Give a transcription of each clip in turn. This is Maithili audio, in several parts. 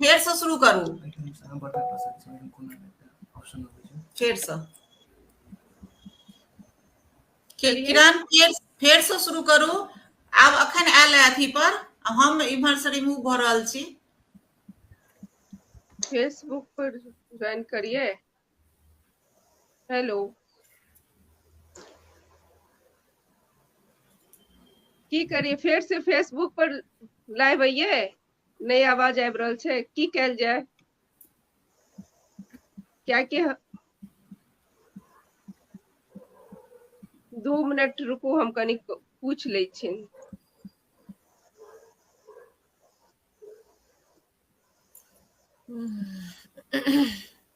फेरसँ शुरू करू फेरसँ किरण फेर फेरसँ शुरू करू आब अखन आयल है अथी पर हम इम्हर से रिमूव भऽ रहल छी फेसबुक पर ज्वाइन करिए हेलो की करिए फेर से फेसबुक पर लाइव आइए नहि आवाज आबि रहल छै की कयल जाय कियाकि दू मिनट रुकू हम कनि पूछ लै छी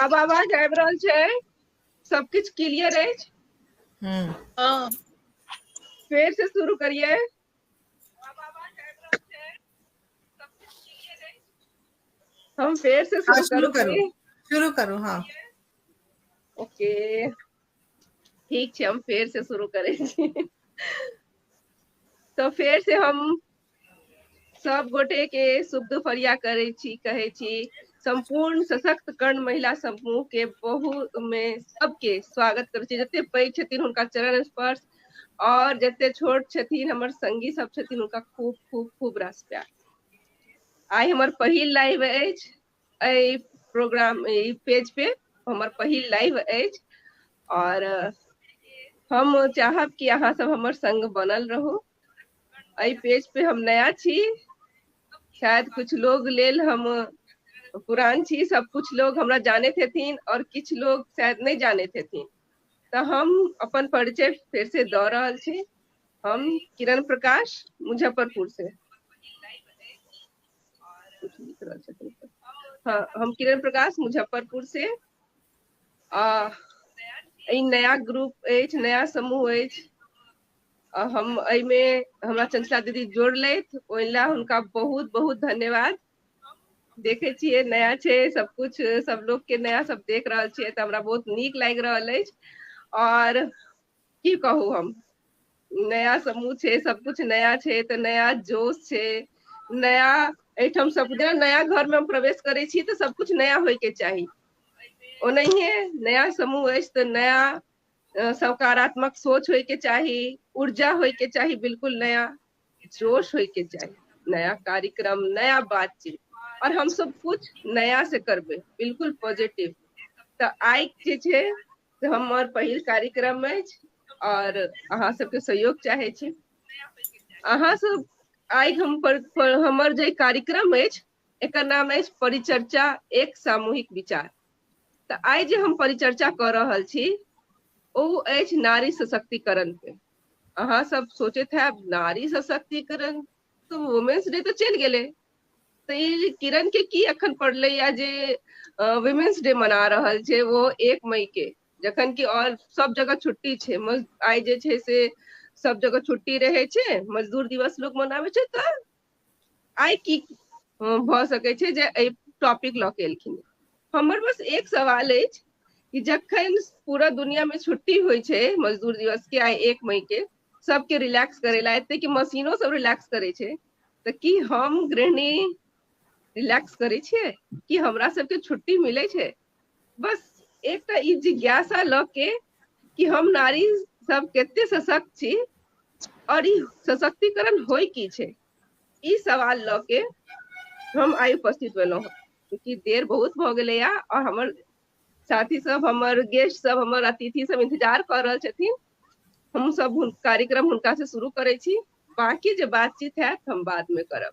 आब आवाज आबि रहल छै सब किछु क्लियर अछि हम्म हाँ फेर से शुरू करिए हम फेर से हाँ, शुरू शुरू करू करूंगी शुरू करू हाँ ओके ठीक छै हम फेर से शुरू करै छी तऽ फेर से हम सब गोटे के शुभ दुपहरिया करै छी कहै छी सम्पूर्ण सशक्त कर्ण महिला समूह के बहुत मे सबके स्वागत करै छी जते पैघ छथिन हुनका चरण स्पर्श और जते छोट छथिन हमर संगी सब छथिन हुनका खूब खूब खूब रास प्यार आइ हमर पहिल लाइव अछि एहि प्रोग्राम ई पेज पे हमर पहिल लाइव अछि और हम चाहब कि अहाँ सब हमर संग बनल रहू एहि पेज पे हम नया छी शायद कुछ लोग लेल हम पुरान छी सब कुछ लोग हमरा जाने हेथिन और किछ लोग शायद नहीं जाने हेथिन तो हम अपन परिचय फिर से द रहा छी हम किरण प्रकाश मुजफ्फरपुर से हाँ हम किरण प्रकाश मुजफ्फरपुर से आ नया ग्रुप नया समूह आ हम एहिमे हमरा चंचला दीदी जोड़लथि ओहि ला हुनका बहुत बहुत धन्यवाद देखे छियै नया छै सब कुछ सब लोग के नया सब देख रहल छियै तऽ हमरा बहुत नीक लागि रहल अछि आओर की कहू हम नया समूह छै सब कुछ नया छै तऽ नया जोश छै नया एहिठाम सब जेना नया घर मे हम प्रवेश करै छी तऽ सब कुछ नया होय के चाही ओनाहिये नया समूह अछि तऽ नया सकारात्मक सोच होइके चाही ऊर्जा होइके चाही बिलकुल नया जोश होइके चाही नया कार्यक्रम नया बातचीत और हम सब कुछ नया से करबे बिलकुल पॉजिटिव तऽ आइ जे छै से हमर पहिल कार्यक्रम अछि और अहाँ सबके सहयोग चाहे छी अहाँ सब आइ हम पर, पर हमर जे कार्यक्रम अछि एकर नाम अछि परिचर्चा एक सामूहिक विचार तऽ आइ जे हम परिचर्चा कऽ रहल छी ओ अछि नारी सशक्तिकरण पे अहाँ सब सोचैत है नारी सशक्तिकरण तो वुमेन्स डे तो चलि गेलै तऽ ई किरण के की अखन पड़लै या जे वुमेन्स डे मना रहल छै वो एक मई के जखन कि और सब जगह छुट्टी छै आइ जे छै से सब जगह छुट्टी रहै छै मजदूर दिवस लोग मनाबै छै तऽ आइ की भऽ सकैत छै जे एहि टॉपिक लऽ के एलखिन हमर बस एक सवाल अछि कि जखन पूरा दुनिया मे छुट्टी होइ छै मजदूर दिवस के आइ एक मई के सबके रिलैक्स करे ला एते कि मशीनो सब रिलैक्स करे छै तऽ की हम गृहिणी रिलैक्स करै छियै कि हमरा सबके छुट्टी मिलै छै बस एकटा ई जिज्ञासा लऽ के कि हम नारी सब कते सशक्त छी और ई सशक्तिकरण होय की छै ई सवाल लऽ के हम आइ उपस्थित भेलहुँ क्योंकि देर बहुत भऽ गेलैया और हमर साथी सब हमर गेस्ट सब हमर अतिथि सब इंतजार कर रहल छथिन हम सब कार्यक्रम हुनका से शुरू करै छी बाकी जे बातचीत है हम बाद में करब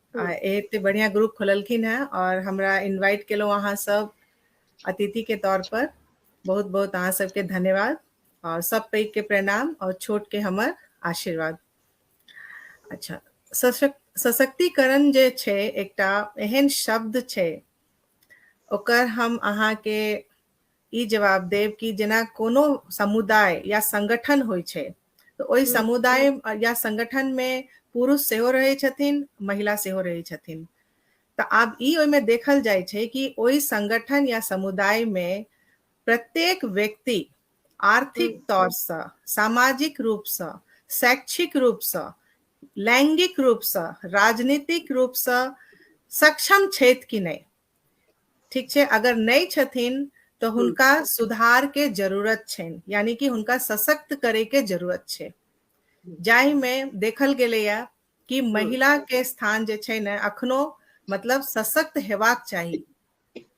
आ हम्म, एते बढ़िया ग्रुप खोललखिन हैं और हमरा इनवाइट केलौं अहाँ सब अतिथि के तौर पर बहुत बहुत अहाँ सबके धन्यवाद और सब पैघ के प्रणाम और छोट के हमर आशीर्वाद अच्छा सशक, सशक्तिकरण जे छै एकटा एहन शब्द छै ओकर हम अहाँ के ई जवाब देब कि जेना कोनो समुदाय या संगठन होइ छै तऽ ओहि हम्म, समुदाय अ, या संगठन मे पुरुष सेहो रहै छथिन महिला सेहो रहै छथिन तऽ आब ई ओहिमे देखल जाइ छै कि ओहि संगठन या समुदाय मे प्रत्येक व्यक्ति आर्थिक हम्म, तौरसँ सामाजिक रूपसँ शैक्षिक रूपसँ लैंगिक रूपसँ राजनीतिक रूपसँ सक्षम छथि कि नहि ठीक छै अगर नहि छथिन तऽ हुनका सुधार के जरूरत छनि यानी कि हुनका सशक्त करे के जरूरत छै जाहि मे देखल गेलैया कि महिला के स्थान जे छै ने अखनो मतलब सशक्त हेबाक चाही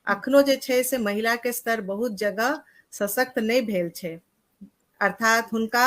अखनो जे छै से महिला के स्तर बहुत जगह सशक्त नहि भेल छै अर्थात हुनका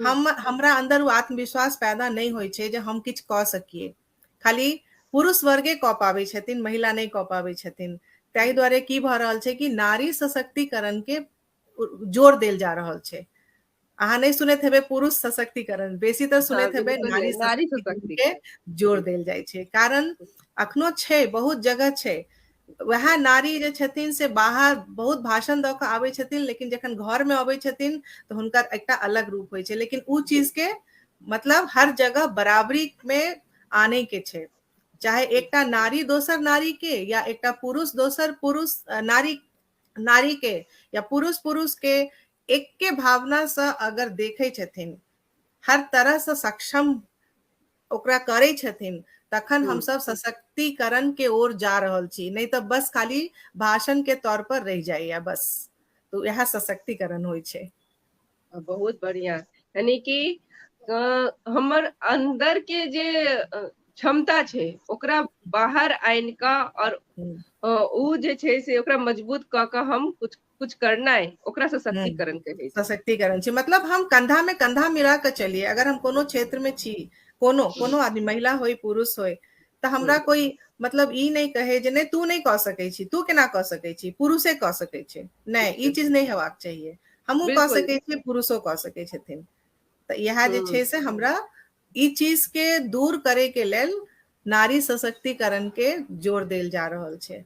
हम हमरा अंदर वो आत्मविश्वास पैदा नहीं हो छे जे हम किछ क सकिए खाली पुरुष वर्गे क पावे छथिन महिला नहीं क पावे छथिन ताहि द्वारे की भ रहल छे कि नारी सशक्तिकरण के जोर देल जा रहल छे अहा नहीं सुने थे पुरुष सशक्तिकरण बेसी तो सुने हाँ, थे नारी नारी सशक्तिकरण के जोर देल जाए छे कारण अखनो छे बहुत जगह छे वएह नारी जे छथिन से बाहर बहुत भाषण दऽ कऽ आबै छथिन लेकिन जखन घरमे अबै छथिन तऽ हुनकर एकटा अलग रूप होइ छै लेकिन ओ चीजके मतलब हर जगह बराबरीमे आनैके छै चाहे एकटा नारी दोसर नारीके या एकटा पुरुष दोसर पुरुष नारी नारीके या पुरुष पुरुषके एक्के भावनासँ अगर देखै छथिन हर तरहसँ सक्षम ओकरा करै छथिन तखन हम सब सशक्तिकरण के ओर जा रहल छी नहीं तो बस खाली भाषण के तौर पर रह जाइए बस तो यह सशक्तिकरण हो बहुत बढ़िया यानी कि हमर अंदर के जे क्षमता छे ओकरा बाहर आन का और हम्म। उ जे छे से ओकरा मजबूत क के हम कुछ कुछ करना है ओकरा हम्म। सशक्तिकरण कहे सशक्तिकरण छी मतलब हम कंधा में कंधा मिला के चलिए अगर हम कोनो क्षेत्र में छी कोनो हम्म। कोनो आदमी महिला होय पुरुष होय तो हमरा हम्म। कोई मतलब ई नहीं कहे जे नहीं तू नहीं कह सके छी तू केना कह सके छी पुरुषे कह सके छी नहीं ई चीज नहीं हेबाक चाहिए हमहूँ कह सके छी पुरुषो कह सके छथिन तऽ इएह जे छै से हमरा ई चीज के दूर करे के लेल नारी सशक्तिकरण के जोर देल जा रहल छै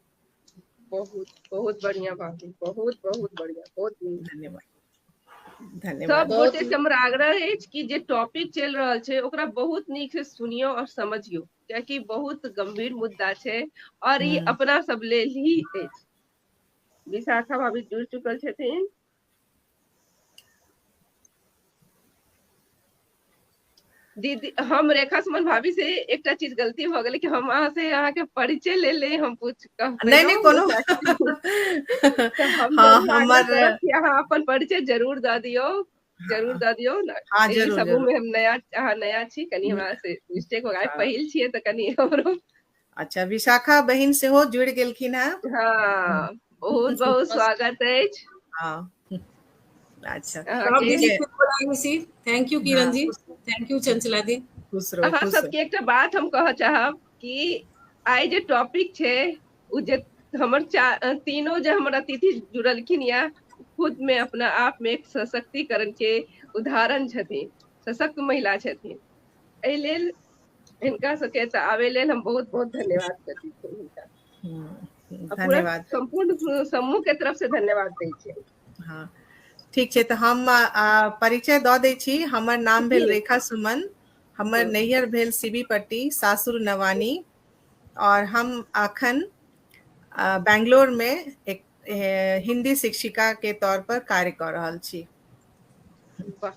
बहुत बहुत बढ़िया बात है बहुत बहुत बढ़िया बहुत नीक। धन्यवाद सब धन्यवाद बहुत गोटे से हमर आग्रह अछि कि जे टॉपिक चलि रहल छै ओकरा बहुत नीक से सुनियो और समझियो कियाकि बहुत गंभीर मुद्दा छै और ई हम्म। अपना सब लेल ही अछि विशाखा भाभी जुड़ चुकल छथिन दीदी हम रेखा सुमन भाभी से एकटा चीज गलती भ गेलै कि हम अहाँ से अहाँ के परिचय ले ले हम पूछ नहीं नहीं कोनो हम हाँ, हमर अहाँ अपन परिचय जरूर द दियो जरूर द दियो ना हाँ, जरूर, समूह में हम नया अहाँ नया छी कनी हमरा से मिस्टेक हो गया हाँ। पहिल छिए त कनी हमरो अच्छा विशाखा बहिन सेहो जुड़ि गेलखिन हेँ हँ बहुत बहुत स्वागत अछि हँ अच्छा thank you Kiran ji thank you Chanchala दी खुश रहू अहाँ सबके एकटा बात हम कहऽ चाहब कि आइ जे टॉपिक छै ओ जे हमर तीनों जे हमर अतिथि जुड़लखिन या खुद में अपना आप में एक सशक्तिकरण के उदाहरण छथिन सशक्त महिला छथिन एहि लेल हिनका सबके एतऽ आबे लेल हम बहुत बहुत धन्यवाद करैत छी हुनका आ पूरा धन्यवाद सम्पूर्ण समूह के तरफ से धन्यवाद दै छियै हँ ठीक छै तऽ हम आ, परिचय दऽ दै छी हमर नाम भेल रेखा सुमन हमर नैहर भेल सीबी पट्टी सासुर नवानी और हम अखन आ, बैंगलोर में एक ए, हिंदी शिक्षिका के तौर पर कार्य कऽ रहल छी वाह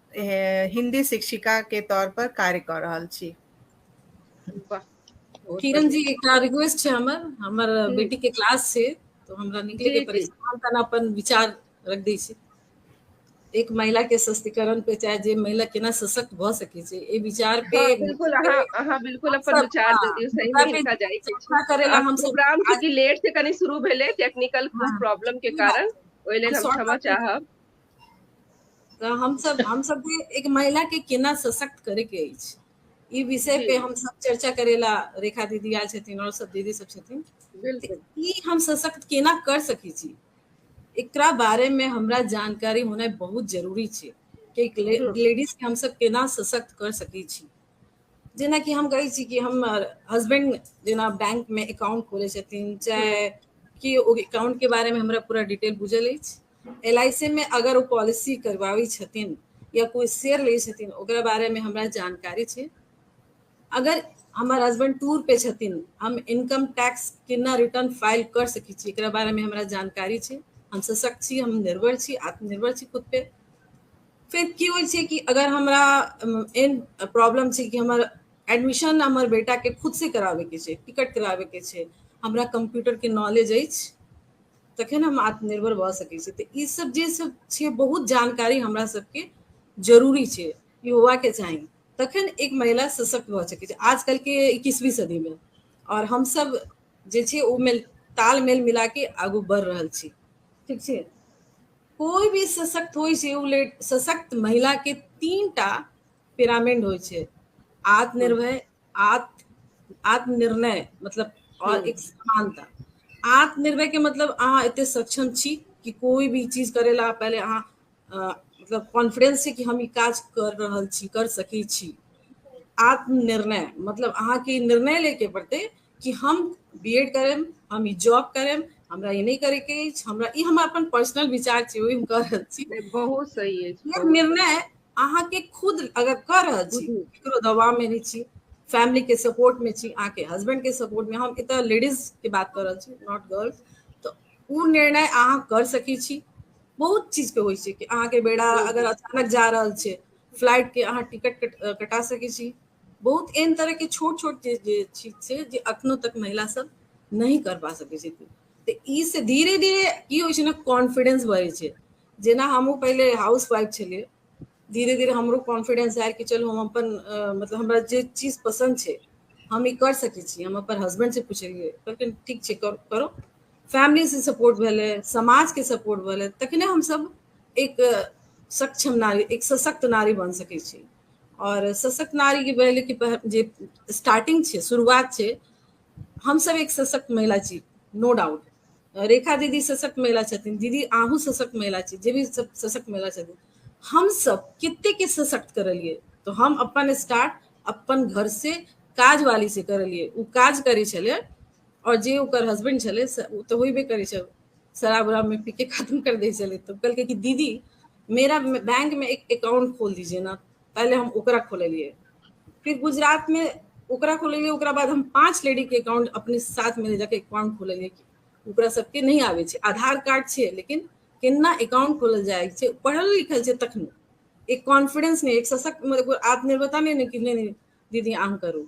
हिंदी शिक्षिका के तौर पर कार्य कर रहल छी किरण जी एकटा रिक्वेस्ट छै हमर हमर हम्म। बेटी के क्लास छै तो हमरा निकले के पड़े हम तना अपन विचार रख दी छी एक महिला के सशक्तिकरण पे चाहे जे महिला केना सशक्त भ सके छै ए विचार पे हाँ, बिल्कुल अहा अहा बिल्कुल अपन विचार दे दियो सही में लिखा जाय छै चर्चा करे ला हम प्रोग्राम के लेट से कनी शुरू भेले टेक्निकल प्रॉब्लम के कारण ओइ लेल हम क्षमा चाहब तऽ हमसब हमसब जे एक महिला के केना सशक्त करे के अछि ई विषय पे हम सब चर्चा करेला रेखा दीदी आयल छथिन और सब दीदी सब छथिन ई हम सशक्त केना कर सके छी एकरा बारे में हमरा जानकारी होना बहुत जरूरी छै कि लेडीज के हम सब केना सशक्त कर सके छी जेनाकि हम कहै छी कि हमर हस्बैंड जेना बैंकमे एकाउंट खोलै छथिन चाहे कि ओ एकाउंटके बारेमे हमरा पूरा डिटेल बुझल अछि एल आई सी मे अगर ओ पॉलिसी करबाबै छथिन या कोइ शेयर लै छथिन ओकरा बारेमे हमरा जानकारी छै अगर हमर हस्बैंड टूर पे छथिन हम इनकम टैक्स केना रिटर्न फाइल कर सकै छी एकरा बारेमे हमरा जानकारी छै हम सशक्त छी हम निर्भर छी आत्मनिर्भर छी खुद पे फिर की होइ छै कि अगर हमरा एन प्रॉब्लम छै कि हमर एडमिशन हमर बेटा के खुद से करावे के छै टिकट करावे के छै हमरा कंप्यूटर के नॉलेज अछि तखन हम आत्मनिर्भर भऽ सकै छी तऽ ई सब जे सब छै बहुत जानकारी हमरा सबके जरूरी छै ई होवा के चाही तखन एक महिला सशक्त भऽ सकै छै आजकल के इक्कीसवीं सदी में और हम सब जे छै ओ में तालमेल मिला के आगू बढ़ रहल छी ठीक छै कोई भी सशक्त हो से लेट सशक्त महिला के तीन टा पिरामिड हो छे आत्मनिर्भय आत्म आत्मनिर्णय मतलब और हम्म। एक समानता आत्मनिर्भय के मतलब अहाँ इतने सक्षम छी कि कोई भी चीज करेला पहले अहाँ मतलब कॉन्फिडेंस से कि हम काज कर रहा छी कर सकी छी आत्मनिर्णय मतलब अहाँ के निर्णय लेके पड़ते कि हम बी एड करेम हम ई जॉब करेम हमरा ई नहि करैके अछि हमरा ई हमर अपन पर्सनल विचार छै ओहि हम कह रहल छी बहुत सही अछि निर्णय अहाँके खुद अगर कह रहल छी केकरो दबाव में नहीं छी फैमिली के सपोर्ट में छी अहाँके हस्बैंड के सपोर्ट में हम एतऽ लेडीज के बात कर रहल छी नॉट गर्ल्स तो ओ निर्णय अहाँ कर सकै छी बहुत चीज के होइ छै कि अहाँके बेड़ा अगर अचानक जा रहल छै फ्लाइट के अहाँ टिकट कटा सकै छी बहुत एहन तरह के छोट छोट जे जे चीज छै जे अखनो तक महिला सब नहीं कर पा सके छै तऽ ई से धीरे धीरे की होइ छै ने कॉन्फिडेंस बढ़ै छै जेना हमहूँ पहिले हाउस वाइफ छलियै धीरे धीरे हमरो कॉन्फिडेंस आयल कि चलू हम अपन अ, मतलब हमरा जे चीज पसंद छै हम ई कर सकै छी हम अपन हस्बैंड से पुछलियै कहलखिन ठीक छै कर, करो फैमिली से सपोर्ट भेलै समाज के सपोर्ट भेलै तखने हमसब एक अ, सक्षम नारी एक सशक्त नारी बन सकै छी और सशक्त नारी के भेल कि जे स्टार्टिंग छे शुरुआत छे हम सब एक सशक्त महिला छी नो डाउट रेखा दीदी सशक्त महिला छथिन दीदी आहू सशक्त महिला छी जे भी सब सशक्त महिला छथिन हम सब कितने के सशक्त करलिए तो हम अपन स्टार्ट अपन घर से काज वाली से करलिए उ काज करे छले और जे ओकर हस्बैंड छले स- उ तो होइबे करे छल शराब उराब में पी के खत्म कर दे छले तो कहलके कि दीदी मेरा बैंक में एक अकाउंट खोल दीजिए ना पहले हम ओकरा खोलिए फिर गुजरात में ओकरा खोलिए ओकरा बाद हम पांच लेडी के अकाउंट अपने साथ में ले जाके अकाउंट खोलिए ओकरा सबके नहीं आवे छे आधार कार्ड छे लेकिन केना अकाउंट खोलल जाए छे पढ़ल लिखल छे तखन एक कॉन्फिडेंस नहीं एक सशक्त मतलब आत्मनिर्भरता नहीं कि नहीं दीदी आम करू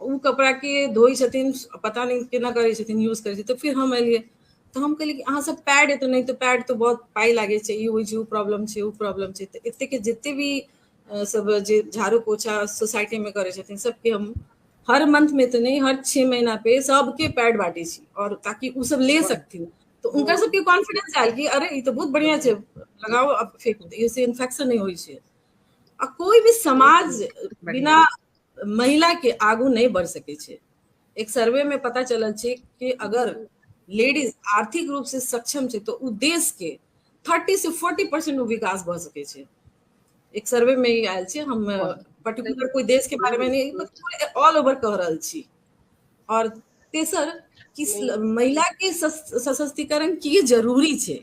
ओ कपड़ा के धोई छथिन पता नहि केना करै छथिन यूज करै छथिन तऽ फिर हम एलियै तऽ हम कहलियै कि अहाँ सब पैड एतौ नहि तऽ पैड तऽ बहुत पाइ लागै छै ई होइ छै ओ प्रॉब्लम छै ओ प्रॉब्लम छै तऽ एतेक जते भी सब जे झाड़ू पोछा सोसाइटी मे करै छथिन सबके हम हर मंथ में तो नहीं हर छह महीना पे सबके पैड बांटे छी और ताकि उ सब ले सकथिन तो उनका सबके कॉन्फिडेंस आयल कि अरे ई तो बहुत बढ़िया छै लगाओ अब फेंक दे इससे इन्फेक्शन नहीं होइ छै आ कोई भी समाज बिना महिला के आगू नहीं बढ़ सके छे एक सर्वे में पता चलल छे कि अगर लेडीज आर्थिक रूप से सक्षम छे तो उ देश के 30 से 40 परसेंट विकास भ सके छे एक सर्वे में ही आयल छे हम पर्टिकुलर कोई देश के बारे में नहीं मतलब ऑल ओवर कह रहल छी और तेसर कि महिला के सशक्तिकरण की जरूरी छे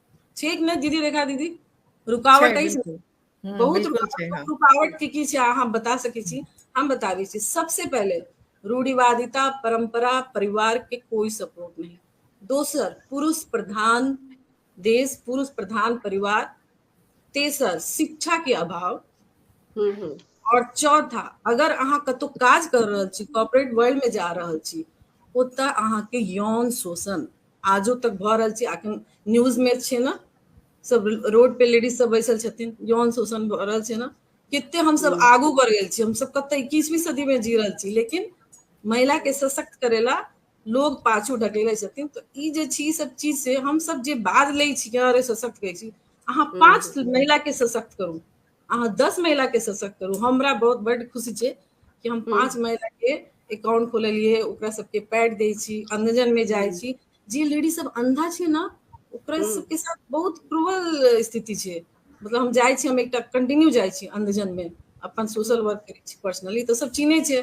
ठीक ने दीदी रेखा दीदी रुकावट अछि हम्म, बहुत हाँ। रुकावट के की अहाँ बता सके छी हम बताबे छी सबसे पहले रूढ़िवादिता परंपरा परिवार के कोई सपोर्ट नहीं दोसर पुरुष प्रधान देश पुरुष प्रधान परिवार तेसर शिक्षा के अभाव हम्म, हम्म। और चौथा अगर अहाँ कतो काज कर रहल छी कॉर्पोरेट वर्ल्ड में जा रहल छी ओतऽ अहाँ के यौन शोषण आजो तक भऽ रहल छै अखन न्यूज में छै ना सब रोड पे लेडीज सब बैसल छथिन यौन शोषण भऽ रहल छै ना कितने हम सब हम्म। आगू बढ़ गए हम सब कत इक्कीसवीं सदी में जी रहे छी लेकिन महिला के सशक्त करेला लोग पाछू ढकेले छथिन तो ई जे छी सब चीज से हम सब जे बाज ले छी अरे सशक्त कहे छी अहाँ हम्म। पांच महिला के सशक्त करू अहाँ दस महिला के सशक्त करू हमरा बहुत बड खुशी छै कि हम पांच महिला के अकाउंट खोललिए ओकरा सबके पैड दै छी अंधजन में जाइ छी जे लेडी सब अंधा छै ना ओकरा सबके साथ बहुत क्रूअल स्थिति छै मतलब हम जाइ छी हम एकटा कंटिन्यू जाइ छी अंधजन में अपन सोशल वर्क करै छी पर्सनली तऽ सब चिन्है छै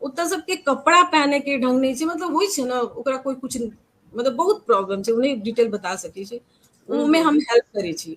ओतऽ सबके कपड़ा पहने के ढंग नहि छै मतलब होइ छै ना ओकरा कोई कुछ मतलब बहुत प्रॉब्लम छै ओ नहि डिटेल बता सकै छै ओमे हम हेल्प करै छी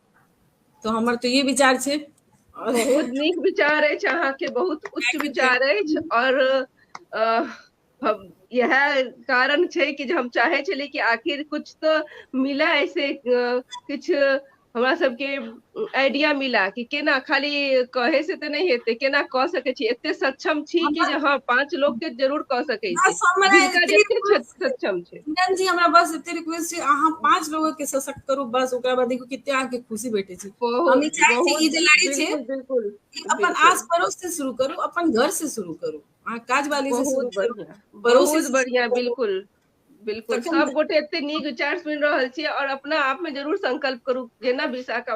तो हमर तो ये विचार छे बहुत नीक विचार अछि अहाँके बहुत उच्च विचार अछि और यह कारण छै कि हम चाहे छलिए कि आखिर कुछ तो मिला ऐसे कुछ हमरा सबके आइडिया मिला कि केना खाली कहे से तऽ नहि हेतै केना कऽ सकै छी एते सक्षम छी कि जे हँ पांच लोग के जरूर कऽ सकै छी सक्षम छी किरण जी हमरा बस एते रिक्वेस्ट छै अहाँ पांच लोग के सशक्त करू बस ओकरा बाद देखू कितने अहाँ के खुशी भेटे छै हम ई चाहे छी ई जे लड़ाई छै बिल्कुल अपन आस पड़ोस से शुरू करू अपन घर से शुरू करू अहाँ काज वाली से शुरू करू पड़ोस से बढ़िया बिल्कुल बिल्कुल सब गोटे एते नीक विचार सुन रहल छी और अपना आप में जरूर संकल्प करू जेना विशाखा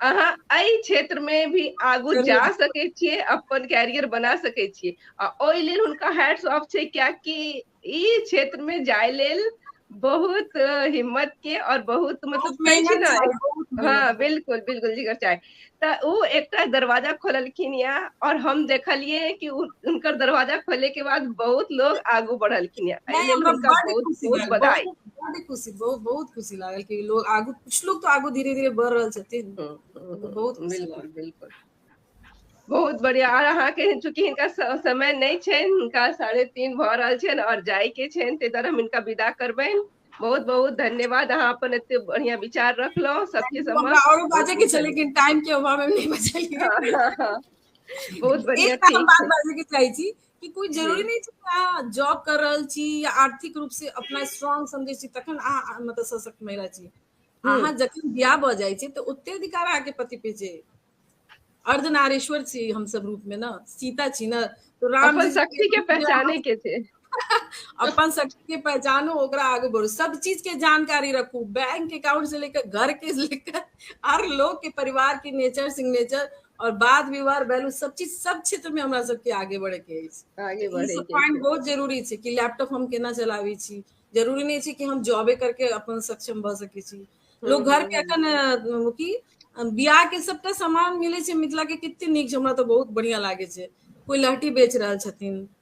अहाँ एहि क्षेत्र मे भी आगू जा जरूर सकै छियै अपन कैरियर बना सकै छियै आ ओहि लेल हुनका हैड सॉफ छै कियकि ई क्षेत्र मे जाय लेल बहुत हिम्मत के और बहुत तऽ मतलब कहै छै मेहनत ने चाही बहुत हँ मेहनत बिलकुल बिलकुल जिगर चाय तऽ ओ एकटा दरवाजा खोललखिन ये और हम देखलियै कि हुनकर दरवाजा खोले के बाद बहुत लोग आगू बढ़लखिन य एहि नहि लेल हमरा हुनका बड बहुत खुशी बहुत भेल बधाई खुशी बहुत खुशी बहुत बहुत खुशी लागल कि लोग आगू कुछ लोग तो आगू धीरे धीरे बढ़ रहल छथिन हम्म, हम्म, तो बहुत खुशी बिल्कुल लागल। बिल्कुल बहुत बढ़िया आर अहाँ के चूंकि हिनका स- समय नहीं छेन हिनका साढ़े तीन भ रहल छेन और जाय के छेन ते द्वारा हम हिनका विदा करबेन बहुत बहुत धन्यवाद अहाँ अपन एते बढ़िया विचार रखलहुँ सबके हमरा समक्ष औरो बहुत बाजे के बहुत छे धन्यवाद लेकिन टाइम के अभाव में नहीं बचल हाँ, हाँ, हाँ। बहुत बढ़िया एक बात हम ठीक बात छै बाजे के चाहे छी कि कोई जरूरी नहीं छै अहाँ जॉब कर रहल छी या आर्थिक रूप से अपना स्ट्रांग समझै छी तखन अहाँ मतलब सशक्त महिला छी हम्म। अहाँ जखन बियाह भऽ जाइ छै तऽ ओते अधिकार अहाँके पति पे छै अर्धनारेश्वर छी हम सब रूप में ना सीता छी ना तो राम अपन शक्ति के पहचाने के थे अपन शक्ति के पहचानो ओकरा आगे बढ़ो सब चीज के जानकारी रखू बैंक अकाउंट से लेकर घर के लेकर हर लोग के परिवार के नेचर सिग्नेचर और बाद विवाह वैल्यू सब चीज सब क्षेत्र में हमरा सबके आगे बढ़े के अछि आगे बढ़े के पॉइंट बहुत जरूरी छै कि लैपटॉप हम केना चलाबी छी जरूरी नहीं छै कि हम जॉबे करके अपन सक्षम भ सके छी हम्म, लोग घर के हम्म, हम्म। अखन की बियाह के सबटा सामान मिले छै मिथिला के कितने नीक हमरा तो बहुत बढ़िया लागे छै कोई लहटी बेच रहल छथिन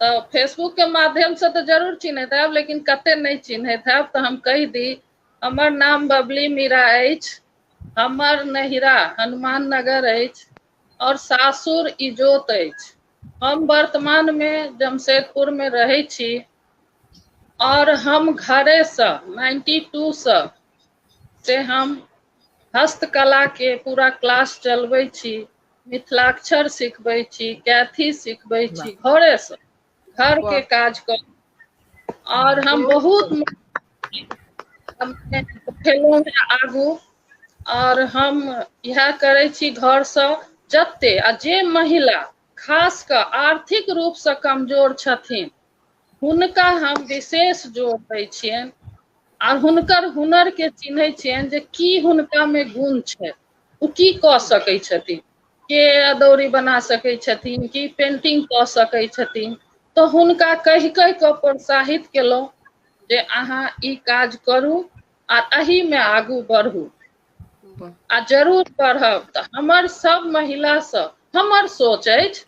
तऽ फेसबुक के माध्यम से तऽ जरूर चिन्हैत हयब लेकिन कते नहि चिन्हैत हयब तऽ हम कहि दी हमर नाम बबली मीरा अछि हमर नैहिरा हनुमान नगर अछि आओर सासुर इजोत अछि हम वर्तमान मे जमशेदपुर मे रहै छी आओर हम घरेसँ नाइन्टी टूसँ से हम हस्तकलाके पूरा क्लास चलबै छी मिथिलाक्षर सिखबै छी कैथी सिखबै वाह छी घरेसँ घरके वाह काज कऽ आओर हँ हम बहुत सुन्दर खेलौं हें आगू आओर हम इएह करै छी घरसँ जते आ जे महिला खास कऽ आर्थिक रूपसँ कमजोर छथिन हुनका हम विशेष जोर दै छियनि आ हुनकर हुनर के चिन्है छियनि जे की हुनका मे गुण छनि ओ की कऽ सकैत छथिन के अदौरी बना सकैत छथिन की पेन्टिंग कऽ सकैत छथिन तऽ हुनका कहि कहि कऽ प्रोत्साहित केलहुँ जे अहाँ ई काज करू आ एहि मे आगू बढ़ू वाह आ जरूर पढ़ब तऽ हमर सभ महिला सब हमर सोच अछि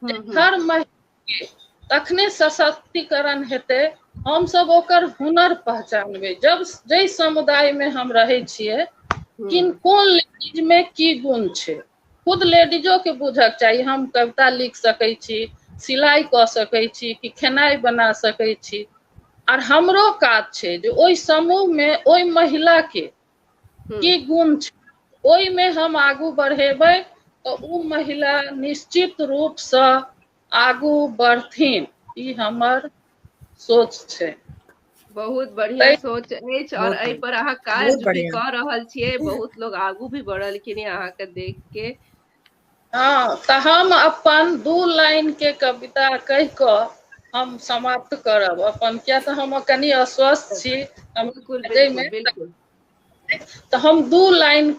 हूँ हूँ हर महि तखने सशक्तिकरण हेतै हमसभ ओकर हुनर पहचानबै जब जाहि समुदायमे हम रहै छियै हूँ किन कोन लेडीज मे की गुण छै खुद लेडीजो के बुझक चाही हम कविता लिख सकैत छी सिलाइ कऽ सकैत छी कि खेनाइ बना सकैत छी आर हमरो काज छै जे ओहि समूहमे ओहि महिलाके हूँ की गुण छै ओहिमे हम आगू बढ़ेबै तऽ ओ महिला निश्चित रूपसँ आगू बढ़थिन ई हमर सोच छै बहुत बढ़िया ताहि सोच अछि और बहुत एहि बढ़िया पर अहाँ बहुत काज भी बढ़िया क रहल छियै बहुत लोग आगू भी बढ़लखिन अहाँके देख के हँ तऽ हम अपन दू लाइन के कविता कहि कऽ हम समाप्त करब अपन किया तऽ हम कनि अस्वस्थ छी बिलकुल हमरा बिलकुल जाहिमे बिलकुल तऽ हम दू लाइन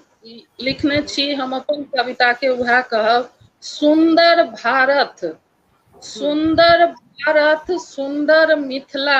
लिखने हूँ छी हम अपन कविता के उएह कहब सुन्दर भारत हूँ सुन्दर भारत सुन्दर मिथिला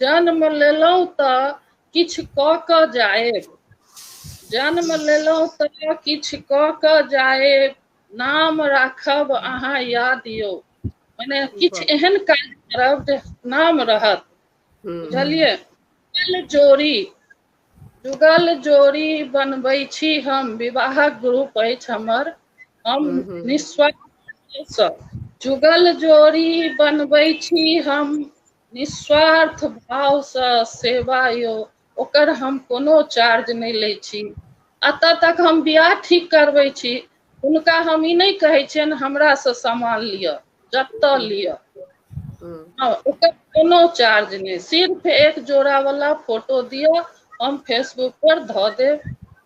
जन्म लेलहुँ तऽ किछु कऽ कऽ जाएब जन्म लेलहुँ तऽ किछु कऽ कऽ जाएब नाम राखब अहाँ याद यौ मने किछु एहन काज करब जे नाम रहत बुझलियै जुगल जोड़ी जुगल जोड़ी बनबै छी हम विवाहक ग्रुप अछि हमर हम निस्वार्थ जुगल जोड़ी बनबै छी हम निःस्वार्थ भावसँ सेवा यौ ओकर हम कोनो चार्ज नहि लै छी एतऽ तक हम बियाह ठीक करबै छी हुनका हम ई नहि कहै छियनि हमरासँ सामान लिअ जतऽ हूँ लिअ हूँ हँ ओकर कोनो चार्ज नहि सिर्फ एक जोड़ा वाला फोटो दिअ हम फेसबुक पर धऽ देब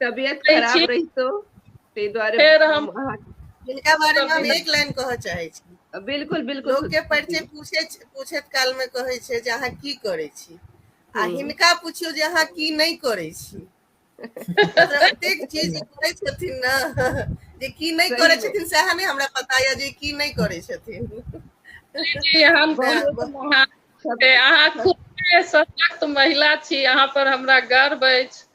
तबियत खराब रहितो ताहि दुआरे फेर हम हिनका बारे में हम एक लाइन कह चाहे छी बिल्कुल बिल्कुल लोग के परिचय पूछे पूछत काल में कहे छे जे अहाँ की करे छी आ हम्म। हिनका पूछियो जे अहाँ की नहीं करे छी प्रत्येक चीज करे छथिन ना जे की नहीं करे छथिन से अहाँ ने हमरा पता या जे की नहीं करे छथिन जी हम बहुत महान अहाँ खूब सशक्त महिला छी अहाँ पर हमरा गर्व अछि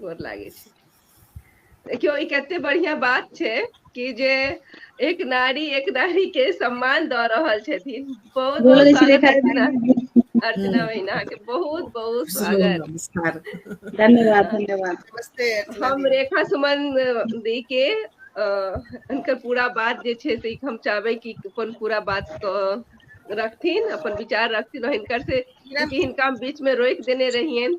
गोर लागै छी देखियौ ई कते बढ़ियाँ बात छै कि जे एक नारी एक नारी के सम्मान दऽ रहल छथिन बहुत बहुत बोलै छी स्वागत देखा अर्चना अर्चना बहिन अहाँके बहुत बहुत स्वागत नमस्कार धन्यवाद अ, धन्यवाद नमस्ते अर्चना हम दीदी रेखा सुमन दी के अ हुनकर पूरा बात जे छै से हम चाहबै कि अपन पूरा बात कऽ रखथिन अपन विचार रखथिन हिनकर से की नाम चूँकि हिनका हम बीच मे रोकि देने रहियनि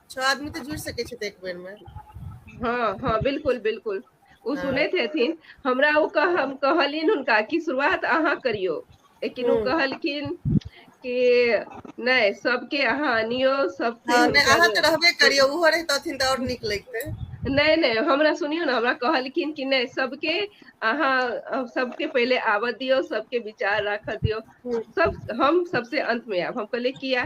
छह आदमी तऽ जुड़ि सकै छै एक बेर मे हँ हँ बिलकुल बिलकुल ओ हँ सुनैत हेथिन हमरा ओ कह हम कहलिन हुनका कि शुरुआत अहाँ करियौ लेकिन ओ हूँ कहलखिन कि नहि सबके अहाँ अनियौ हँ नहि अहाँ तऽ रहबे करियौ ओहो रहितथिन तऽ आओर नीक लैगतै नहि नहि हमरा सुनियौ ने हमरा कहलखिन कि नहि सबके अहाँ सबके पहिले आबऽ दियौ सबके विचार राखऽ दियौ हूँ सब हम सबसे अन्त मे आयब हम कहलियै किया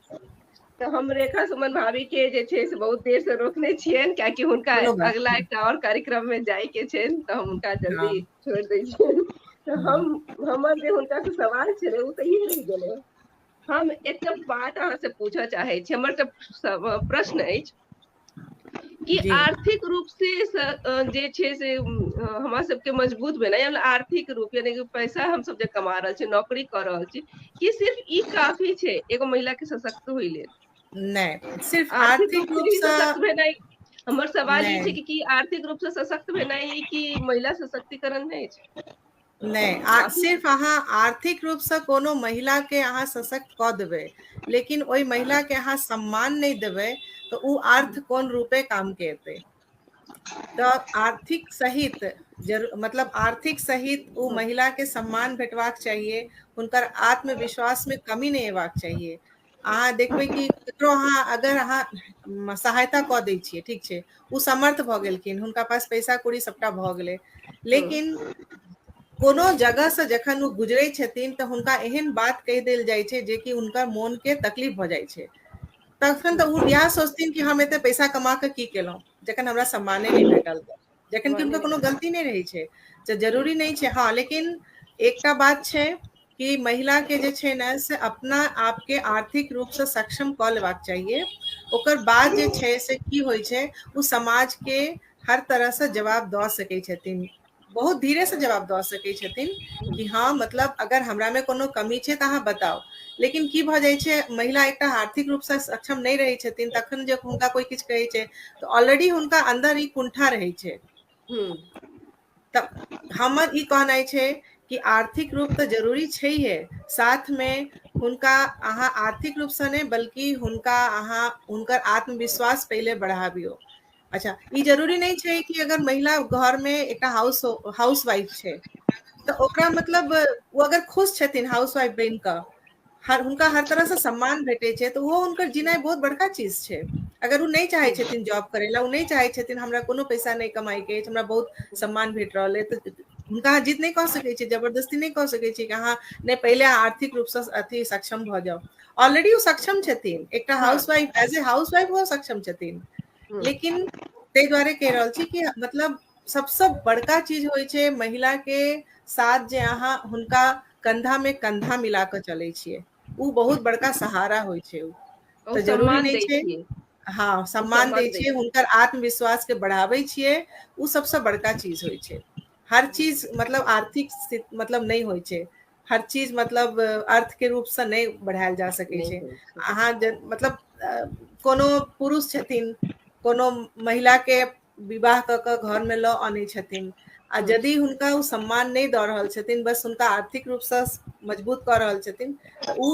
तऽ हम रेखा सुमन भाभी के जे छै से बहुत देर से रोकने छियैन कियाकि हुनका कोनो बात अगिला नहि एकटा आओर कार्यक्रम मे जाय के छैन तऽ हम हुनका हँ जल्दी छोड़ि दै छियनि तऽ हँ हम हमर जे हुनका से सवाल छलै ओ तऽ ई रहि गेलै हम एकटा बात अहाँ से पूछऽ चाहै छी हमर तऽ प्रश्न अछि कि जी आर्थिक रूप से जे छै से हमरा सबके मजबूत भेनाय आर आर्थिक रूप यानि कि पैसा हम सब जे कमा रहल छी नौकरी कऽ रहल छी कि सिर्फ ई काफी छै एगो महिला के सशक्त होइ लेल नहि सिर्फ आर्थिक रूप से ही रूपसँ सशक्त भेनाय हमर सवाल ई छै नहि कि कि आर्थिक रूप से सशक्त भेनाय कि महिला सशक्तिकरण नहि अछि नहि आ सिर्फ अहाँ आर्थिक रूपसँ कोनो महिलाके अहाँ सशक्त कऽ देबै लेकिन ओहि महिलाके अहाँ सम्मान नहि देबै तऽ ओ अर्थ कोन रूपे कामके एतै तऽ आर्थिक सहित जर मतलब आर्थिक सहित ओ महिलाके सम्मान भेटबाक चाहिए हुनकर आत्मविश्वासमे कमी नहि अयबाक चाहिए अहाँ देखबै कि ककरो अहाँ अगर अहाँ सहायता कऽ दै छियै ठीक छै ओ समर्थ भऽ गेलखिन हुनका पास पैसा कौड़ी सभटा भऽ गेलै लेकिन कोनो जगहसँ जखन ओ गुजरै छथिन तऽ हुनका एहन बात कहि देल जाइ छै जेकि हुनकर मोनके तकलीफ भऽ जाइ छै तखन तऽ ओ इएह सोचथिन कि हम एते पैसा कमा कऽ की केलहुँ जखन हमरा सम्माने नहि भेटल तऽ जखन कि हुनकर कोनो गलती नहि रहै छै तऽ जरूरी नहि छै हँ लेकिन एकटा बात छै कि महिला के जे छै ने से अपना आप के आर्थिक रूप से सक्षम कऽ लेबाक चाहिए ओकर बाद जे छै से की होइ छै ओ समाज के हर तरह से जवाब दऽ सकै छथिन बहुत धीरे से जवाब दऽ सकै छथिन कि हँ मतलब अगर हमरा मे कोनो कमी छै तऽ अहाँ बताउ लेकिन की भऽ जाइ छै महिला एकटा आर्थिक रूप से सक्षम नहि रहै छथिन तखन जे हुनका कोइ किछु कहै छै तऽ ऑलरेडी हुनका अन्दर ई कुण्ठा रहै छै हम्म, तऽ हमर ई कहनाइ छै कि आर्थिक रूप तऽ जरूरी छैहे साथमे हुनका अहाँ आर्थिक रूपसँ नहि बल्कि हुनका अहाँ हुनकर आत्मविश्वास पहिले बढ़ाबियौ अच्छा ई जरूरी नहि छै कि अगर महिला घरमे एकटा हाउस हाउस वाइफ छै तऽ ओकरा मतलब ओ अगर खुश छथिन हाउस वाइफ बनि कऽ हर हुनका हर तरह से सम्मान भेटे छै तऽ ओहो हुनकर जिनाइ बहुत बड़का चीज छै अगर ओ नहि चाहे छथिन जॉब करे ला ओ नहि चाहे छथिन हमरा कोनो पैसा नहि कमाई के अछि हमरा बहुत सम्मान भेट रहल है तऽ हुनका अहाँ जीत नहि कऽ सकैत छियै जबरदस्ती नहि कऽ सकैत छियै कि अहाँ नहि पहिले आर्थिक रूप से अथी सक्षम भऽ जाउ ऑलरेडी ओ सक्षम छथिन एकटा housewife as a housewife ओ सक्षम छथिन लेकिन ताहि दुआरे कहि रहल छी कि मतलब सबसँ बड़का चीज होइ छै महिलाके साथ जे अहाँ हुनका कन्धामे कन्धा मिला कऽ चलै छियै ओ बहुत बड़का सहारा होइ छै ओ तऽ जरूरी नहि छै हँ सम्मान दै छियै हुनकर आत्मविश्वासके बढ़ाबै छियै ओ सबसँ बड़का चीज होइ छै हर चीज मतलब आर्थिक मतलब नहि होइ छै हर चीज मतलब अर्थके रूपसँ नहि बढ़ायल जा सकै छै अहाँ मतलब कोनो पुरुष छथिन कोनो महिलाके विवाह कऽ कऽ घरमे लऽ अनै छथिन आ हूँ यदि हुनका ओ सम्मान नहि दऽ रहल छथिन बस हुनका आर्थिक रूपसँ मजबूत कऽ रहल छथिन तऽ ओ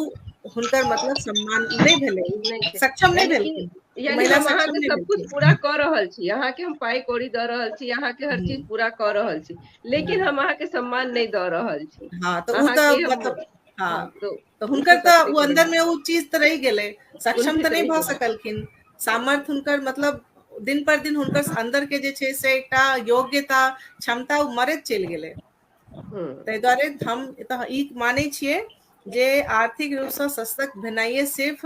हुनकर मतलब सम्मान नहि भेलै ओ नहि छै सक्षम नहि यानि कि भेलखिन ओ यानि महिला हम सक्षम अहाँके नहि सब कुछ भेलखिन पूरा कऽ रहल छी अहाँ के हम पाइ कौड़ी दऽ रहल छी अहाँ के हर चीज हूँ पूरा कऽ रहल छी लेकिन हूँ हम अहाँके सम्मान नहि दऽ रहल छी हँ तऽ ओ तऽ अहाँके हम मतलब हँ तऽ तऽ हुनकर तऽ ओ अन्दर में ओ चीज तऽ रहि गेलै सक्षम तऽ नहि भऽ सकलखिन सामर्थ्य हुनकर मतलब दिन पर दिन हुनकर अन्दर के जे छै से एकटा योग्यता क्षमता ओ मरैत चलि गेलै हम्म। ताहि दुआरे हम एतऽ ई मानै छियै जे आर्थिक रूपसँ सशक्त भेनाइए सिर्फ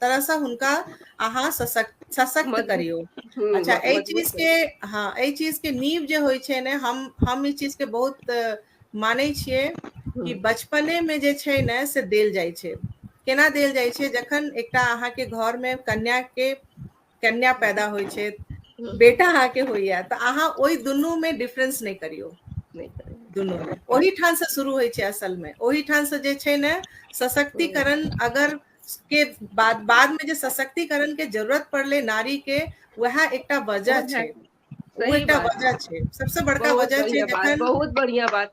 तरह से हुनका अहाँ सशक्त सशक्त करियो हम्म, अच्छा ए चीज के हाँ ए चीज के नींव जे होय छे ने हम हम ई चीज के बहुत माने छिए कि हम्म। बचपने में जे छे ने से देल जाय छे केना देल जाय छे जखन एकटा अहाँ के घर में कन्या के कन्या पैदा होइ छै हम्म। बेटा अहाँ के होइया तऽ अहाँ ओहि दुनू में डिफरेंस नहि करियौ नहि करियौ। दुनू में ओहि ठाम से शुरू होइ छै असल में ओहि ठाम से जे छै ने सशक्तिकरण अगर के बाद बाद में जे सशक्तिकरण के जरूरत पड़ले नारी के वएह एकटा वजह छै ओ सही एकटा बात वजह छै सबसँ बड़का बहुत वजह छै बढ़िया बात जखन बहुत बढ़िया बात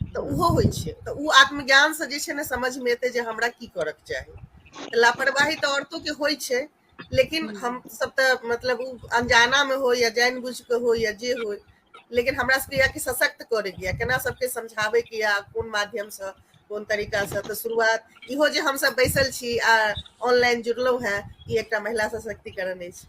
तऽ ओहो होइ छै तऽ ओ आत्मज्ञान से जे छै ने समझ मे एतै जे हमरा की करऽ के चाही लापरवाही तऽ औरतो के होइ छै लेकिन हम सब तऽ मतलब ओ अनजाना मे हो या जानि बुझ के हो या जे हो लेकिन हमरा सबके यह सशक्त करे के केना सबके समझाबे के या कोन माध्यम से कोन तरीका से तऽ शुरुआत इहो जे हमसब बैसल छी आ ऑनलाइन जुड़लहुँ हेँ ई एकटा महिला सशक्तिकरण अछि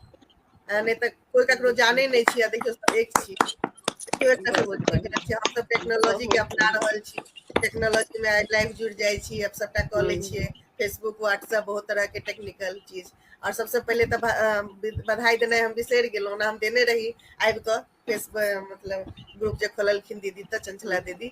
नहि तऽ कोई ककरो जाने नहीं छी देखियो सब एक छी केओ एकटा से बोल छै हम सब टेक्नोलॉजी के अपना रहल छी टेक्नोलॉजी में लाइफ जुड़ जाय छी अब सबटा क ले हम्म। छिए फेसबुक व्हाट्सएप बहुत तरह के टेक्निकल चीज और सबसे पहले तो बधाई देना हम बिसर गलो ना हम देने रही आबि कऽ फेसबुक मतलब ग्रुप जे खोललखिन दीदी तऽ चंचला दीदी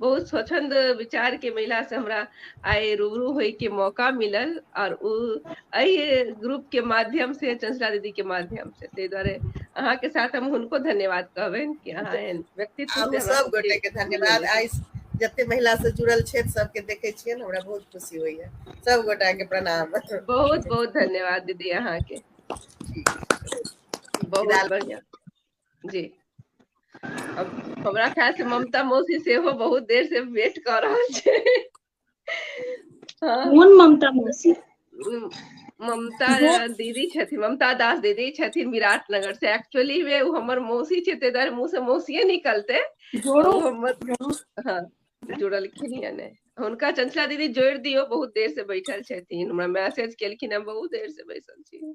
बहुत स्वचंद विचार के महिला से हमरा आइ रूबरू होय के मौका मिलल और उ एहि ग्रुप के माध्यम से चंचला दीदी के माध्यम से ताहि दुआरे अहाँ के साथ हम हुनको धन्यवाद कहबनि कि अहाँ एहन व्यक्तित्व हम से हमरा सब गोटे के धन्यवाद आइ जते महिला से जुड़ल छथि सबके देखे छियै हमरा बहुत खुशी होइया सब गोटा के प्रणाम बहुत बहुत धन्यवाद दीदी अहाँ के बहुत बढ़िया जी हमरा ख्याल से ममता मौसी से हो बहुत देर से वेट कर रहा है हाँ। कौन ममता मौसी ममता दीदी छथिन ममता दास दीदी छथिन विराट नगर से एक्चुअली वे वो हमर मौसी छे ते दर मुंह से मौसिए निकलते जोड़ो हाँ जुड़ल खिनिया ने उनका चंचला दीदी जोड़ दियो बहुत देर से बैठल छथिन हमरा मैसेज केलखिन हम बहुत देर से बैठल छी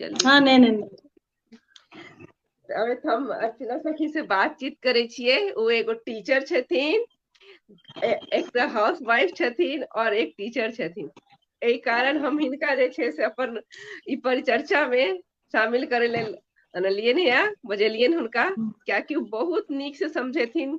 जल्दी हँ नहि नहि त हम अर्चना सखी से बातचीत करै छियै ओ एगो टीचर छथिन एक तऽ हाउस वाइफ छथिन और एक टीचर छथिन एहि कारण हम हिनका जे छै से अपन ई परिचर्चा मे शामिल करै लेल अनलियनि ह बजेलियनि हुनका कियाकि ओ बहुत नीक से समझेथिन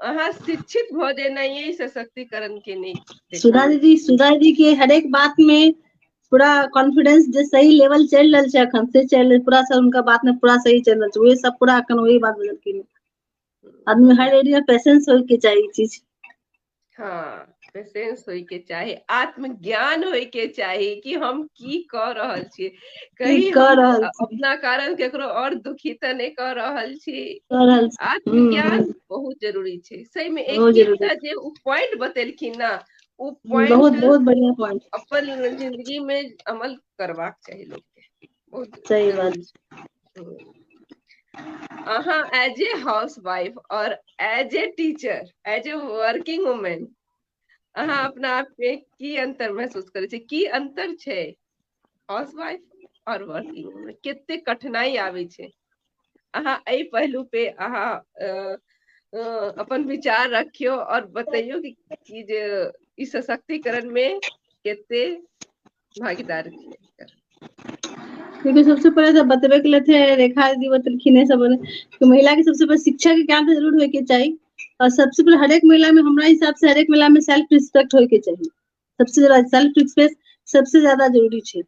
अहाँ शिक्षित भऽ जेनाइए सशक्तिकरण के नहि सुधा दीदी सुधा दीदी के हरेक बात मे पूरा कॉन्फिडेंस जे सही लेवल चलि रहल छै अखन से चलि रहल पूरा सब उनका बात मे पूरा सही चलि रहल छै उहे सब पूरा अखन वही बात बजलखिन आदमी हर एरिया पेशेंस होय के चाही ई चीज हाँ पेशेंस होय के चाही आत्मज्ञान होय के चाही कि हम की कऽ रहल छी कहीं अपना कारण केकरो और दुखी तऽ नहि कऽ रहल छी आत्मज्ञान हम्म, हम्म। बहुत जरूरी छै सही मे एक जे ओ पॉइंट बतेलखिन ने ओ पॉइंट बहुत बहुत बढ़िया पॉइंट अपन जिंदगी मे अमल करबाक चाही लोक बहुत सही बात जरूरी छै अहाँ एज ए हाउस वाइफ और as a teacher as a working women अहाँ अपना आप में की अंतर महसूस करे छे की अंतर छे हाउस वाइफ और वर्किंग वूमेन कितने कठिनाई आवे छे अहाँ ए पहलू पे अहाँ अपन विचार रखियो और बताइयो कि, कि जे इस सशक्तिकरण में कितने भागीदार क्यकि सबसँ पहिले तऽ बतबे के लेे रेखा दी बतेलखिन ह सब तऽ महिला के सबसँ पहिले शिक्षा के ज्ञान तऽ जरूर होयके चाही आ सबसँ पहिले हरेक महिला मे हमरा हिसाब से हरेक महिला मे सेल्फ रिस्पेक्ट होय के चाही सबस जादा सेल्फ रिस्पेकट सबस जादा जरूरी छै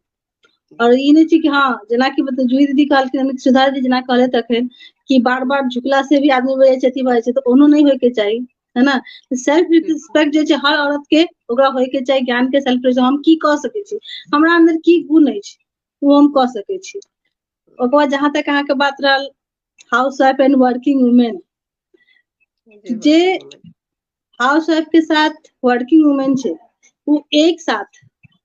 आओर ई नहि छै कि हँ जेनाकि मत जूही दीदी कहलखिन अमित सुधा दीदी जेना कहलथि अखन कि बार बार झुकला से भी आदमी हो जाइ छै अथी भ जाइ छै तऽ ओनो नहि होयके चाही है ना सेल्फ रिस्पेक्ट जे छै हर औरत के ओकरा होय के चाही ज्ञान के सेल्फ रिस्पेक्ट हम की कऽ सकै छी हमरा अंदर की गुण अछि ओ हम कऽ सकै छी ओकर बाद जहाँ तक अहाँके बात रहल housewife and working women जे हाउस वाइफ के साथ वर्किंग वुमेन छै वो एक साथ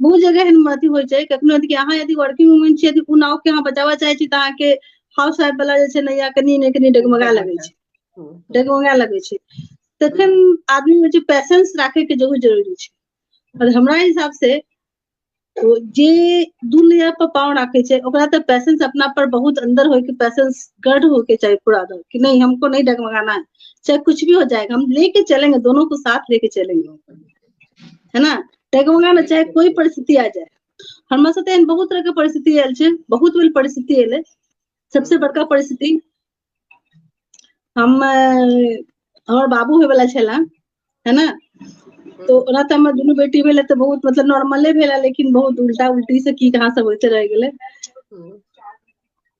बहुत जगह एहन अथी होइ छै कखनो य अहाँ यदि वर्किंग वूमेन छियै यदि ओ नाव के अहाँ बचाबय चाहै छी तऽ अहाँके हाउस वाइफ वाला जे छै ने या कनि ने कनि डगमगा लगै छै डगमगा लगै छै तखन आदमी मे जे पैसेंस राखे के जरूर जरूरी छै और हमरा हिसाब से ओ जे दू नया पर पाँव राखे छै ओकरा तऽ पैसेंस अपना पर बहुत अंदर होय के पैसेंस गर्ड होय के चाही पूरा अंदर कि नहीं हमको नहीं डगमगाना है चाहे कुछ भी हो जाएगा हम लेके चलेंगे दोनों को साथ लेके चलेंगे है न ताहि के बदला में चाहे कोइ परिस्थिति आ जाय हमरा साथे एहन बहुत तरह के परिस्थिति आयल छै बहुत बेर परिस्थिति एलै सबसे बड़का परिस्थिति हम हमर बाबू होय वाला छला है न तो ओना तऽ हमर दुनू बेटी भेलै तऽ बहुत मतलब नॉर्मले भेला लेकिन बहुत उल्टा उल्टी से की कहाँ सब होते रह गेलै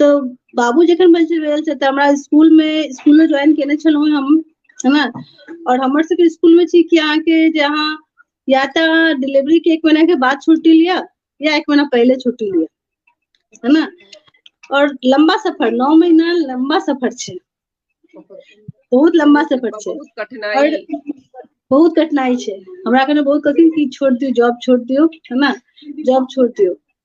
तऽ बाबू जखन बचल रहल छै तऽ हमरा स्कुल मे स्कुल मे ज्वाइन केने छलहुँ हम है न आओर हमर सबके स्कुल मे छी कि अहाँके जे अहाँ या तऽ डिलिवरी के एक महीना के बाद छुट्टी लिअ या एक महीना पहिले छुट्टी लिअ है न आओर लम्बा सफर नौ महीना लम्बा सफर छै बहुत लम्बा सफर छै बहुत कठिनाई आओर बहुत कठिनाई छै हमरा कने बहुत कठिन की छोड़ दियौ जॉब छोड़ दियौ है न जॉब छोड़ दियौ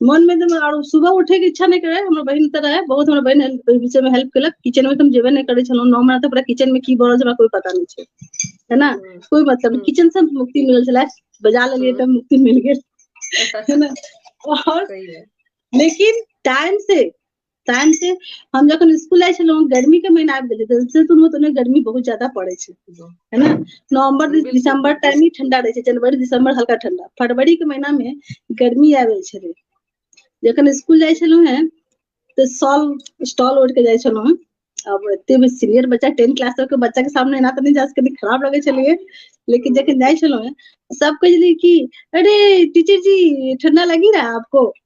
मन मे त आर सुबह उठे के इच्छा नहि करे हमर बहिन त रहे बहुत हमर बहिन ओहि विषय मे हेल्प केलक किचन मे त हम जेबे नहि करै छलहुँ नओ महिना त पूरा किचन मे की भ रहल छै हमरा कोई पता नहि छै है न हूँ कोइ मतलब नहि हूँ किचन से मुक्ति मिलल छलै बजा लेलियै हूँ त मुक्ति मिल गेल है न आओर सही मे लेकिन टाइम से टाइम से हम जखन स्कूल जाइ छलहुँ गर्मी के महीना आबि गेलै तऽ तुरंत ओने गर्मी बहुत ज्यादा पड़ै छै है ना नवंबर बिल्कुल दिसंबर बिल्कुल टाइम ही ठंडा रहै छै जनवरी दिसंबर हल्का ठंडा फरवरी के महीना में गर्मी आबै छलै जखन स्कूल जाइ छलहुँ हैं तऽ सॉल स्टॉल ओढ़ के जाइ छलहुँ हैं अब एते भी सीनियर बच्चा टेन क्लास तक के बच्चा के सामने एना तऽ नहि जा सकै कनी खराब लगै छलैये लेकिन जखन जाइ छलहुँ हैं सब कहै छलै कि अरे टीचर जी ठंडा लगी रहा आपको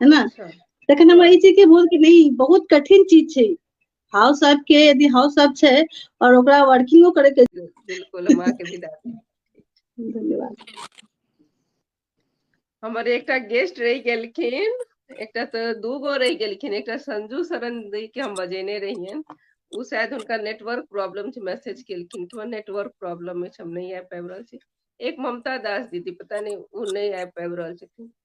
है ना अच्छा। तखन हमरा ई चीज के बोल कि नहीं बहुत कठिन चीज छै हाउस वाइफ के यदि हाउस वाइफ छै और ओकरा वर्किंगो करे के बिल्कुल हम अहाँके विदा दै छी। धन्यवाद हमर एकटा गेस्ट रहि गेलखिन एकटा तऽ दू गो रहि गेलखिन एकटा संजू शरण दी के हम बजेने रहियन उ शायद हुनका नेटवर्क प्रॉब्लम छै मैसेज केलखिन कि हमरा नेटवर्क प्रॉब्लम अछि हम नहि आबि पाबि रहल छी एक ममता दास दीदी पता नहि उ नहि आबि पाबि रहल छथिन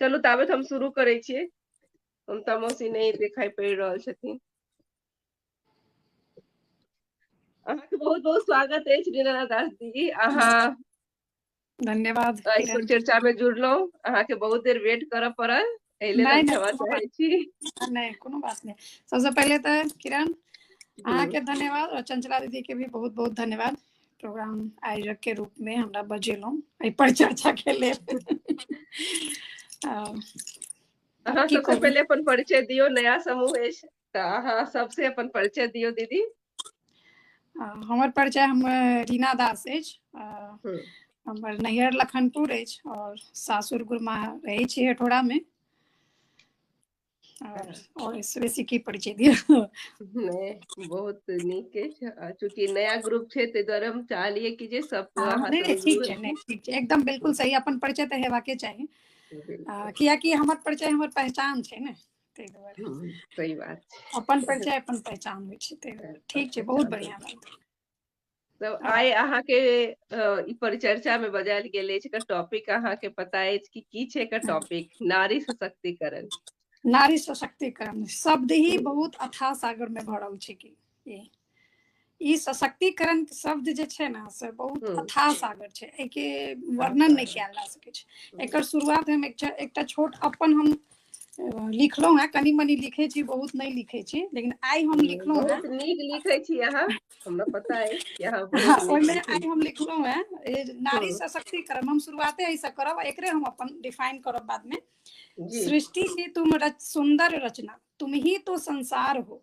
चलू ताबे हम शुरू करै छियै ममता मौसी नहि देखाई पड़ि रहल छथिन अहाँके बहुत बहुत स्वागत अछि रीना दास जी अहाँ धन्यवाद एहिपर चर्चा में जुड़लहुँ अहाँके बहुत देर वेट करऽ पड़ल एहि लेल हम क्षमा चाहै छी नहि कोनो बात नहि सबसँ पहिले तऽ किरण अहाँके धन्यवाद और चंचला दीदी के भी बहुत बहुत धन्यवाद प्रोग्राम आयोजक के रूप में हमरा बजेलहुँ एहि पर चर्चा के लेल अ, अहाँ की सबसे कहू? पहिले अपन परिचय दियौ नया समूह अछि तऽ अहाँ सबसे अपन परिचय दियौ दीदी अ, हमर परिचय हम रीना दास अछि अ, हम्म। हमर नैहर लखनपुर अछि और सासुर गुरमा रहै छी हेठोड़ा में आओर बेसी की परिचय दिअ नहि बहुत नीक अछि आ चूँकि नया ग्रुप छै ताहि दुआरे हम चाहलियै कि जे सब हँ नहि नहि ठीक छै नहि ठीक छै एकदम बिलकुल सही अपन परिचय तऽ हेबाके चाही आ कियाकि हमर परिचय हमर पहचान छै ने ताहि दुआरे हम्म, सही बात छै अपन परिचय अपन पहचान होइ छै ताहि दुआरे ठीक छै बहुत पहचान बढ़िआँ बात तऽ आ आइ अहाँके ई परिचर्चा मे बजायल गेल अछि एकर टॉपिक अहाँके पता अछि कि की छै एकर टॉपिक नारी सशक्तिकरण नारी सशक्तिकरण शब्द ही बहुत अथाह सागर में भरल छै कि ई सशक्तिकरण शब्द जे छै ने से बहुत हम्म। अथाह सागर छै एहिके वर्णन नहि कयल जा सकै छै एकर शुरुआत हम एकटा एकटा छोट अपन हम लिखलहुँ हेँ कनि मनि लिखै छी बहुत नहि लिखै छी लेकिन आइ हम लिखलहुँ हेँ बहुत नीक लिखै छी अहाँ हमरा पता अछि कि अहाँ बहुत हँ नीक ओहिमे लिखै आइ छी हम लिखलहुँ हेँ ए, नारी हँ सशक्तिकरण हम शुरुआते एहिसँ करब आ एकरे हम अपन डिफाइन करब बादमे जी सृष्टि की तुम रच सुंदर रचना तुम ही तो संसार हो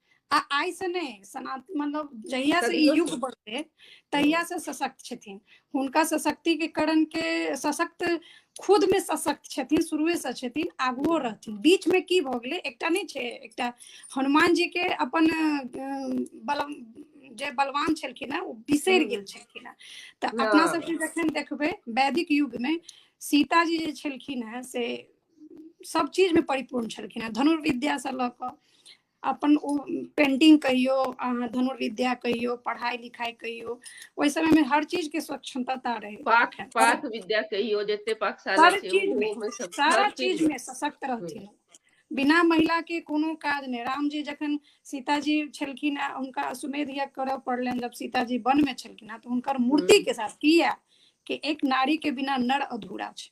आ आइ से नहि सनातन मतलब जहिया से ई युग बढ़ले तहिया से सशक्त छथिन हुनका सशक्ति के करण के सशक्त खुद में सशक्त छथिन शुरुए से छथिन आगुओ रहथिन बीच में की भऽ गेलै एकटा नहि छै एकटा हनुमान जी के अपन बल जे बलवान छलखिन हेँ ओ बिसरि गेल छलखिन हेँ तऽ अपना सबके जखन देखबै वैदिक युग में सीताजी जे छलखिन हेँ से सब चीज में परिपूर्ण छलखिन हेँ धनुर्विद्या से लऽ कऽ अपन ओ पेंटिंग कहियो अहाँ धनुर्विद्या कहियो पढ़ाई लिखाई कहियो ओहि समय में हर चीज के स्वच्छता रहे पाक पाक विद्या कहियो जते पाकशाला हर छै चीज में ओहोमे सब सारा हर चीज में सशक्त रहथिन बिना महिला के कोनो काज नहि रामजी जखन सीताजी छलखिन आ हुनका सुमेध यज्ञ करऽ पड़लनि जब सीताजी वन में छलखिन हँ तऽ हुनकर मूर्ति के साथ किया कि एक नारी के बिना नर अधूरा छै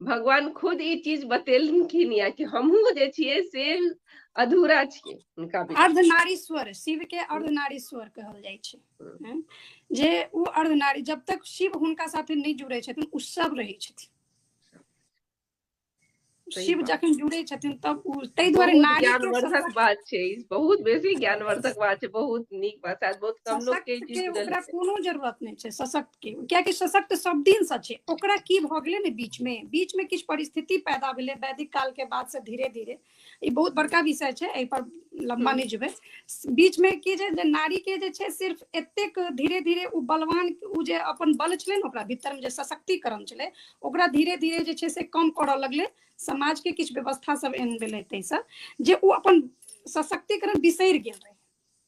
भगवान खुद ई चीज बतेलखिन या कि हमहूँ जे छियै से अधूरा छियै हुनका बिना। अर्धनारीश्वर शिव के अर्धनारीश्वर कहल जाइ छै हम्म। हँ? जे ओ अर्धनारी जब तक शिव हुनका साथे नहि जुड़ै छथिन ओ सब रहै छथिन सही शिव बात। जखन जुड़ै छथिन तब ओ ताहि दुआरे बहुत नारी के ज्ञानवर्धक सशक्त- बात छै ई बहुत बेसी ज्ञानवर्धक बात छै बहुत नीक बात शायद बहुत कम लोग के ई सशक्त चीज के बुझल ओकरा कोनो जरूरत नहि छै सशक्त के कियाकि सशक्त सब दिन से छै ओकरा की भऽ गेलै ने बीच में बीच में किछु परिस्थिति पैदा भेलै वैदिक काल के बाद से धीरे धीरे ई बहुत बड़का विषय छै एहि पर लम्बा हम्म। नहि जेबै बीच में की जे जे नारी के जे छै सिर्फ एतेक धीरे धीरे ओ बलवान ओ जे अपन बल छलै ने ओकरा भीतर में जे सशक्तिकरण छलै ओकरा धीरे धीरे जे छै से कम करऽ लगलै समाज के किछु व्यवस्था सब एहन भेलै ताहिसँ जे ओ अपन सशक्तिकरण बिसरि गेल रहै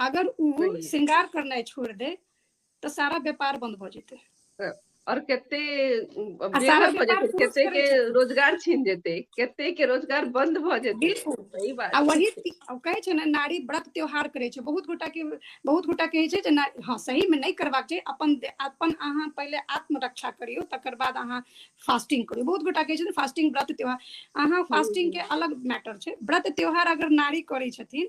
अगर ओ सही। श्रृंगार करनाइ छोड़ दे तो सारा व्यापार बंद भ जेते और कते अब आ सारा बेघर भऽ व्यापार जेतै पुरुष कते करै के छथिन। रोजगार छीन जेतै कते के रोजगार बंद भऽ जेतै बिल्कुल सही बात आ वही ती- आ कहै छै ने नारी व्रत त्योहार करै छै बहुत गोटा के बहुत गोटा कहै छै जे ना- हँ सही में नहीं करबाक छै अपन दे- अपन अहाँ पहिले आत्मरक्षा करियौ तकर बाद अहाँ फास्टिंग करियौ बहुत गोटा कहै छै फास्टिंग व्रत त्योहार अहाँ फास्टिंग के अलग मैटर छै व्रत त्योहार अगर नारी करै छथिन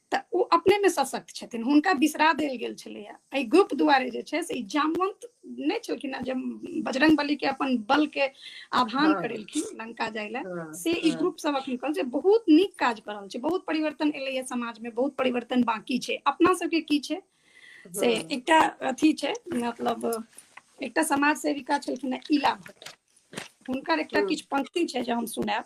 तऽ ओ अपनेमे सशक्त छथिन हुनका बिसरा देल गेल छलैए एहि ग्रुप दुआरे जे छै से ई जामवंत नहि छलखिन हेँ जे बजरंग बलीके अपन बलके आह्वान हँ। करेलखिन लंका जाय लए हँ, से ई हँ। ग्रुप सब अखन कहल छै बहुत नीक काज कऽ रहल छै बहुत परिवर्तन एलैए समाजमे बहुत परिवर्तन बाँकी छै अपना सबके की छै से हँ। एकटा अथी छै मतलब एकटा समाज सेविका छलखिन हेँ इला भट्ट हुनकर एकटा हँ। किछु पंक्ति छै जे हम सुनायब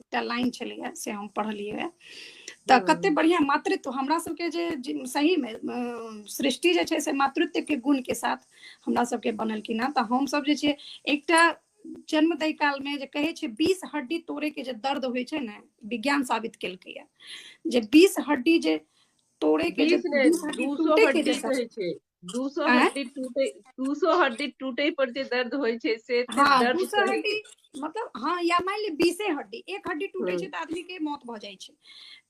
एकटा लाइन छलैए से हम पढ़लियै तऽ हम्म। कते बढ़िआँ मातृत्व हमरा सबके जे जे- सहीमे अ, सृष्टि जे छै से मातृत्वके गुणके साथ हमरा सबके बनलखिन हँ तऽ हमसब जे छै एकटा जन्म दै कालमे जे कहै छै बीस हड्डी तोड़ैके जे दर्द होइ छै ने विज्ञान साबित केलकैए जे बीस हड्डी जे तोड़ैके जे बीस ने बीस हड्डी दू सौ टूटैके हड्डी जे दर्द कहै छै दू सौ आँय? हड्डी टूटे दू सौ हड्डी टूटे पर जे दर्द होइ छै से एते हाँ दर्द दू सौ सही- हड्डी मतलब हाँ या मान ली बीसे हड्डी एक हड्डी टूटे छै तऽ आदमी के मौत भऽ जाइ छै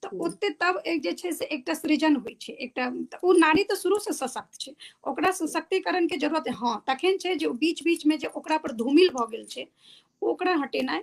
तऽ हम्म। ओते तब एक जे छै से एकटा सृजन होइ छै एकटा तऽ ओ नारी तऽ शुरू से सशक्त छै ओकरा सशक्तिकरण के जरूरत है हाँ तखन छै जे बीच बीच में जे ओकरा पर धूमिल भऽ गेल छै ओकरा हटेनाइ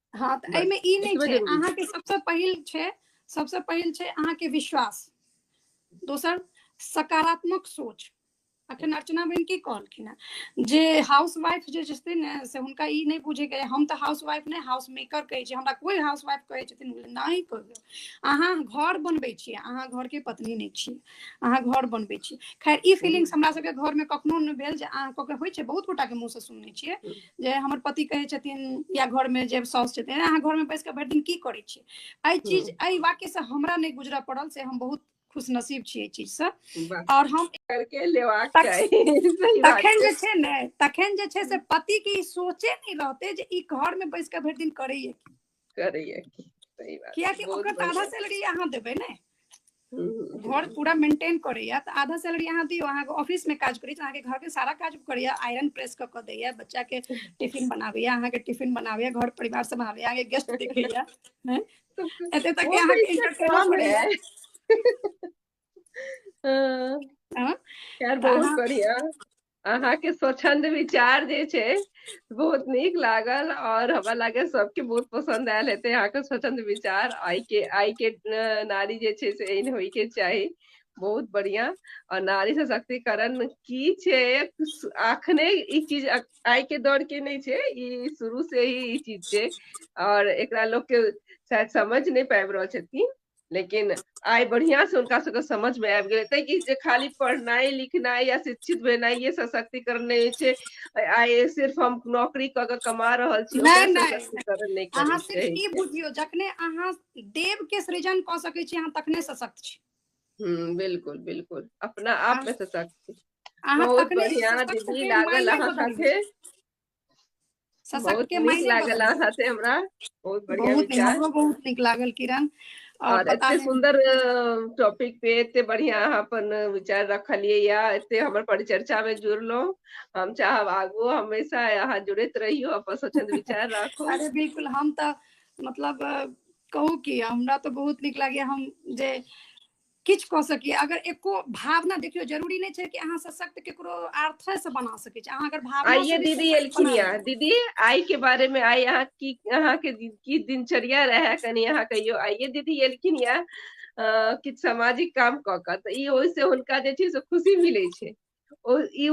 हाँ तऽ बस, एहिमे ई नहि एतबे छै जरूरी छै। अहाँके सबसँ पहिल छै सबसँ पहिल छै अहाँके विश्वास दोसर सकारात्मक सोच अखन अर्चना बहिन की कहलखिन हेँ जे हाउस वाइफ जे छथिन ने से हुनका ई नहि बुझेके रहै, हम तऽ हाउस वाइफ नहि हाउस मेकर कहै छी हमरा कोई हाउस वाइफ कहै छथिन हम कहलियै, नहि कहबै अहाँ घर बनबै छियै अहाँ घरके पत्नी नहि छियै अहाँ घर बनबै छी खैर ई फीलिंग्स हमरा सबके घर में कखनो नहि भेल जे अहाँ ककरो होइ छै बहुत गोटा के मुंह से सुनने छियै जे हमर पति कहै छथिन या घर में जे साउस छथिन अहाँ घर में बैस के भरि दिन की करै छी एहि चीज एहि वाक्य से हमरा नहि गुजरऽ पड़ल से हम बहुत खुश नसीब छी एहि चीज से और हम करके लेवाक तखन जे छै ने तखन जे छै से पति के ई सोचे नहि रहते जे ई घर में बैस के भरि दिन करैया की करैया की सही बात कियाकि बहुत ओकरा तऽ आधा बढ़िया सैलरी अहाँ देबै ने हम्म, हम्म, घर हम्म, पूरा मेंटेन करैया तऽ आधा सैलरी अहाँ दियौ अहाँके ऑफिस मे काज करी तऽ अहाँके घर के सारा काज करैया आयरन प्रेस कऽ कऽ दैया बच्चा के टिफिन बनाबैया अहाँके टिफिन बनाबैया घर परिवार सम्हारैया अहाँके गेस्ट देखैया हैं? एते तक कि वो तो अहाँके इसका entertainer काम बनैया। है हँ, हँ, खैर तऽ बहुत अहाँ बढ़िया अहाँके स्वच्छन्द विचार जे छै बहुत नीक लागल और हमरा लागैये सबके बहुत पसन्द आयल हेतै अहाँके स्वच्छन्द वि चार आइ के आइ के नारी जे छै से एहन होयके चाही बहुत बढ़ियाँ आ नारी सशक्तिकरण की छै अखने ई चीज आइ के दौर के नहि छै ई शुरू से ही ई चीज छै और एकरा लोकके शायद समझ नहि पाबि रहल छथिन लेकिन आइ बढ़िया से हुनका सबके समझ में आबि गेलै तै कि जे खाली पढ़नाइ लिखनाइ या शिक्षित भेनाइ ये सशक्तिकरण नहि होइ छै आइ सिर्फ हम नौकरी कऽ के कमा रहल छी नहि, ओकरा नहि। सशक्तिकरण नहि अहाँ करै सिर्फ छै ई बुझियौ जखने अहाँ देव के सृजन कऽ सकै छी अहाँ तखने सशक्त छी हम्म, बिल्कुल बिल्कुल अपना आप में सशक्त छी अहाँ बहुत तखने बढ़िया सशक्त दीदी हेबै, लागल मायने अहाँ बदलबै। साथे बहुत सशक्तके नीक मायने लागल बदलि अहाँ सकै से हमरा बहुत छै बढ़िया बहुत नीक विचार हमरो बहुत नीक लागल किरण आओर और पता एते नहि सुन्दर टॉपिक पे एते बढ़िया अहाँ अपन विचार रखलियै या एते हमर परिचर्चा में जुड़लहुँ हम चाहब आगू हमेशा अहाँ जुड़ैत रहियौ अपन स्वच्छंद विचार राखू अरे बिल्कुल हम तऽ मतलब अ, कहू कि हमरा तऽ बहुत नीक लागैए हम जे किछु कऽ सकी अगर एको भावना देखियौ जरूरी नहि छै कि अहाँ सशक्त केकरो अर्थे से बना सकै छी अहाँ अगर भावना आइए से भी दीदी सशक्त एलखिन बना यऽ लेबै। दीदी आइ के बारे में आइ अहाँ की अहाँ के दि- की दिनचर्या रहे कनी अहाँ कहियो आइए दीदी एलखिन यऽ अ, किछु सामाजिक काम कऽ कऽ तऽ ई ओहिसँ हुनका जे छै से खुशी मिलै छै ओ ई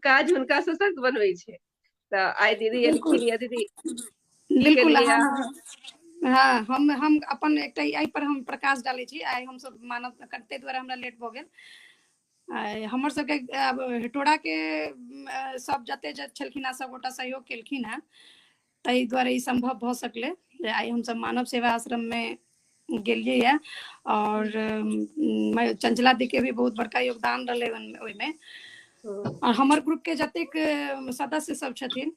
काज हुनका सशक्त बनबै छै तऽ आइ दीदी बिल्कुल एलखिन यए दीदी की बिल्कुल केलियै अहाँ अहाँ ने हँ हम हम अपन एकटा एहि पर हम प्रकाश डालै छी आइ हमसभ मानव ताहि दुआरे हमरा लेट भऽ गेल आइ हमर सबके आब हेटोरा के अम, अ, सब जते जत छलखिन हेँ सभगोटा सहयोग केलखिन हेँ ताहि द्वारा ई सम्भव भऽ सकलै जे आइ हमसभ मानव सेवा आश्रममे गेलियै यऽ आओर चञ्चला दीके भी बहुत बड़का योगदान रहलै ओहिमे आओर हमर ग्रुपके जतेक सदस्य सब छथिन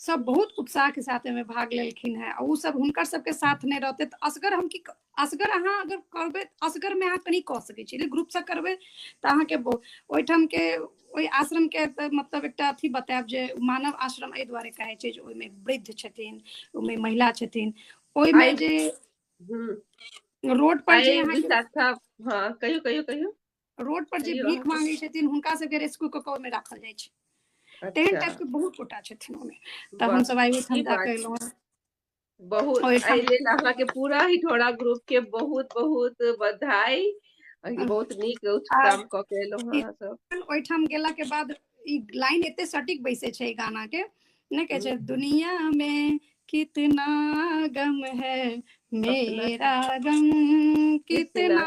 सब बहुत उत्साहके साथ एहिमे भाग लेलखिन हेँ ओ सब हुनकर सबके साथ नहि रहतै तऽ असगर हम की असगर अहाँ अगर करबै असगरमे अहाँ कनि कऽ सकै छी ग्रुपसँ करबै तऽ अहाँके ओहिठामके ओहि आश्रमके तऽ मतलब एकटा अथी बतायब जे मानव आश्रम एहि दुआरे कहै छै जे ओहिमे वृद्ध छथिन ओहिमे महिला छथिन ओहिमे जे रोड पर जे अहाँके हँ कहियो कहियो कहियो रोड पर जे भीख मांगे छथिन हुनका सबके रेस्क्यू कऽ कऽ ओहिमे राखल जाइ छै अच्छा। तेहन टाइप के बहुत गोटा छथिन ओहिमे तऽ हम सब आइ ओहिठाम जाके एलहुँ बहुत एहि ओहिठाम लेल अहाँके पूरा हिठौड़ा ग्रुप के बहुत बहुत बधाई अहाँके बहुत नीक आ काम कऽ के एलहु हें अहाँ सब ओहिठाम गेला के बाद ई लाइन एते सटीक बैसे छै एहि गाना के नहि कहै छै दुनिया मे कितना गम है मेरा गम कितना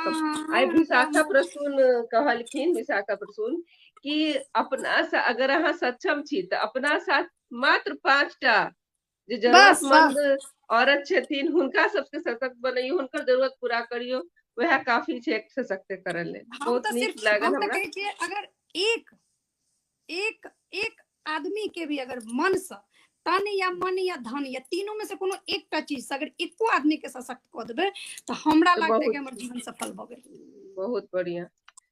आइ विशाखा गम प्रसून कहलखिन विशाखा प्रसून कि अपना सा- अगर अहाँ सक्षम छी तऽ अपना साथ मात्र पाँचटा जे जरूरतमंद औरत छथिन हुनका सबके सशक्त बनैयो हुनकर जरूरत पूरा करियो वह काफी छै एक सशक्तिकरण ले बहुत नीक लागल हमरा अगर एक एक एक आदमी के भी अगर मन से तन या मन या धन या तीनों में से कोनो एकटा चीज से अगर एको आदमी के सशक्त क देबे तो हमरा लगता है कि हमर जीवन सफल भ गेल बहुत बढ़िया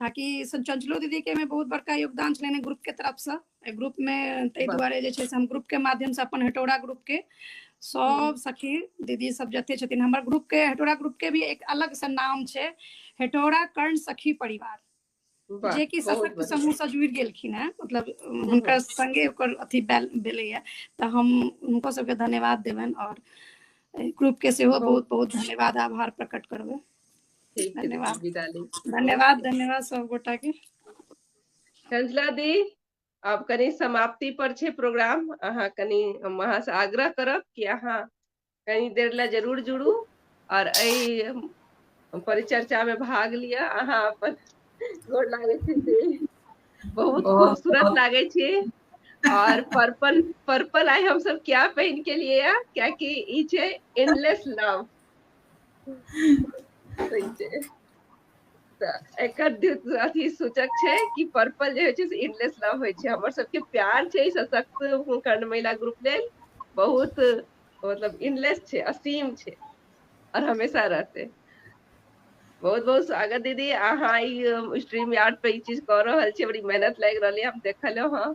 ताकि संचंचलो दीदी के में बहुत बड़का योगदान छलनि ग्रुप के तरफ से एहि ग्रुप में ताहि दुआरे जे छै से हम ग्रुप के माध्यम से अपन हेटौड़ा ग्रुप के सब सखी दीदी सब जते छथिन हमर ग्रुप के हेटौड़ा ग्रुप के भी एक अलग से नाम छै हेटौड़ा कर्ण सखी परिवार वाह, जे कि बहुत सशक्त बढ़िया। समूह से जुड़ि गेलखिन हैं मतलब हुनकर संगे ओकर अथी बैल- भेलैया तऽ हम हुनको सबके धन्यवाद देबनि और ग्रुप के सेहो बहुत बहुत धन्यवाद आभार प्रकट करबै ठीक छै धन्यवाद। विदा ली धन्यवाद धन्यवाद सब गोटा के कंजला दी आब कनी समाप्ति पर छै प्रोग्राम अहाँ कनी हम अहाँ से आग्रह करब कि अहाँ कनी देर ले जरूर जुड़ू और एहि परिचर्चा में भाग लिअ अहाँ अपन गोर लागै छी दी। बहुत बहुत- खूबसूरत लागै छी और पर्पल पर्पल आइ हम सब क्या पहन के लिए या क्या कि ई छै एंडलेस लव तऽ एकर अथी सूचक छै कि पर्पल जे होइ छै से इनलेस लव होइ छै हमर सबके प्यार छै सशक्त कर्ण महिला ग्रुप लेल बहुत मतलब इनलेस छै असीम छै आओर हमेशा रहतै बहुत बहुत स्वागत दीदी अहाँ ई स्ट्रीम यार्ड पे ई चीज कऽ रहल छियै बड़ी मेहनत लागि रहल है हम देखलहुँ हँ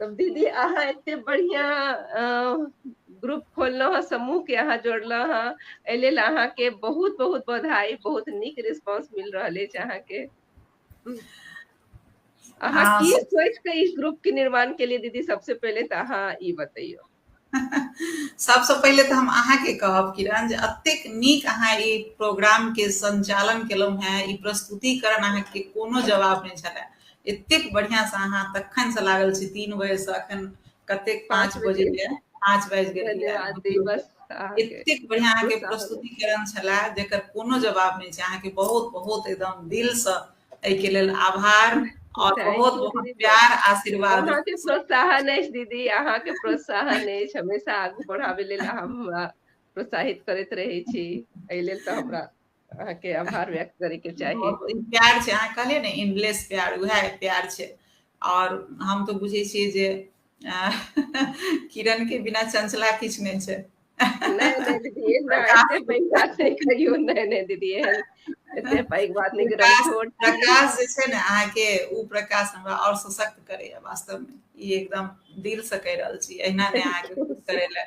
तब दीदी अहाँ एते बढ़िया ग्रुप खोललहुँ हेँ समूहके अहाँ जोड़लहुँ हेँ एहि लेल अहाँके बहुत बहुत बधाई बहुत नीक रिस्पॉन्स मिल रहल अछि अहाँके अहाँ की सोच के इस ग्रुप के निर्माण के लिए दीदी सबसे पहले तो अहाँ ई बतैयो सबसँ पहिले तऽ हम अहाँके कहब किरण जे अतेक नीक अहाँ ई प्रोग्रामके सञ्चालन केलहुँ हेँ ई प्रस्तुतिकरण अहाँके कोनो जवाब नहि छलए एतेक बढ़िआँसँ अहाँ तखनसँ लागल छी तीन बजेसँ एखन कतेक पाँच बजे पाँच बाजि गेल एतेक बढ़िआँ अहाँके प्रस्तुतिकरण छलए जेकर कोनो जवाब नहि छै अहाँके बहुत बहुत एकदम दिलसँ एहिके लेल आभार और बहुत बहुत प्यार आशीर्वाद अहाँ के प्रोत्साहन अछि दीदी अहाँ के प्रोत्साहन अछि हमेशा आगू बढ़ावे लेल हम प्रोत्साहित करैत रहे छी एहि लेल तऽ हमरा अहाँ के आभार व्यक्त करे के चाही प्यार छै अहाँ कहलिए ने इंडलेस प्यार वह प्यार छै आओर हम तऽ बुझै छियै जे किरण के बिना चंचला किछु नहि छै प्रकाश जे छै ने अहाँके ओ प्रकाश हमरा आओर सशक्त करैया वास्तव मे ई एकदम दिल से कहि रहल छी एहिना नहि अहाँके करे लए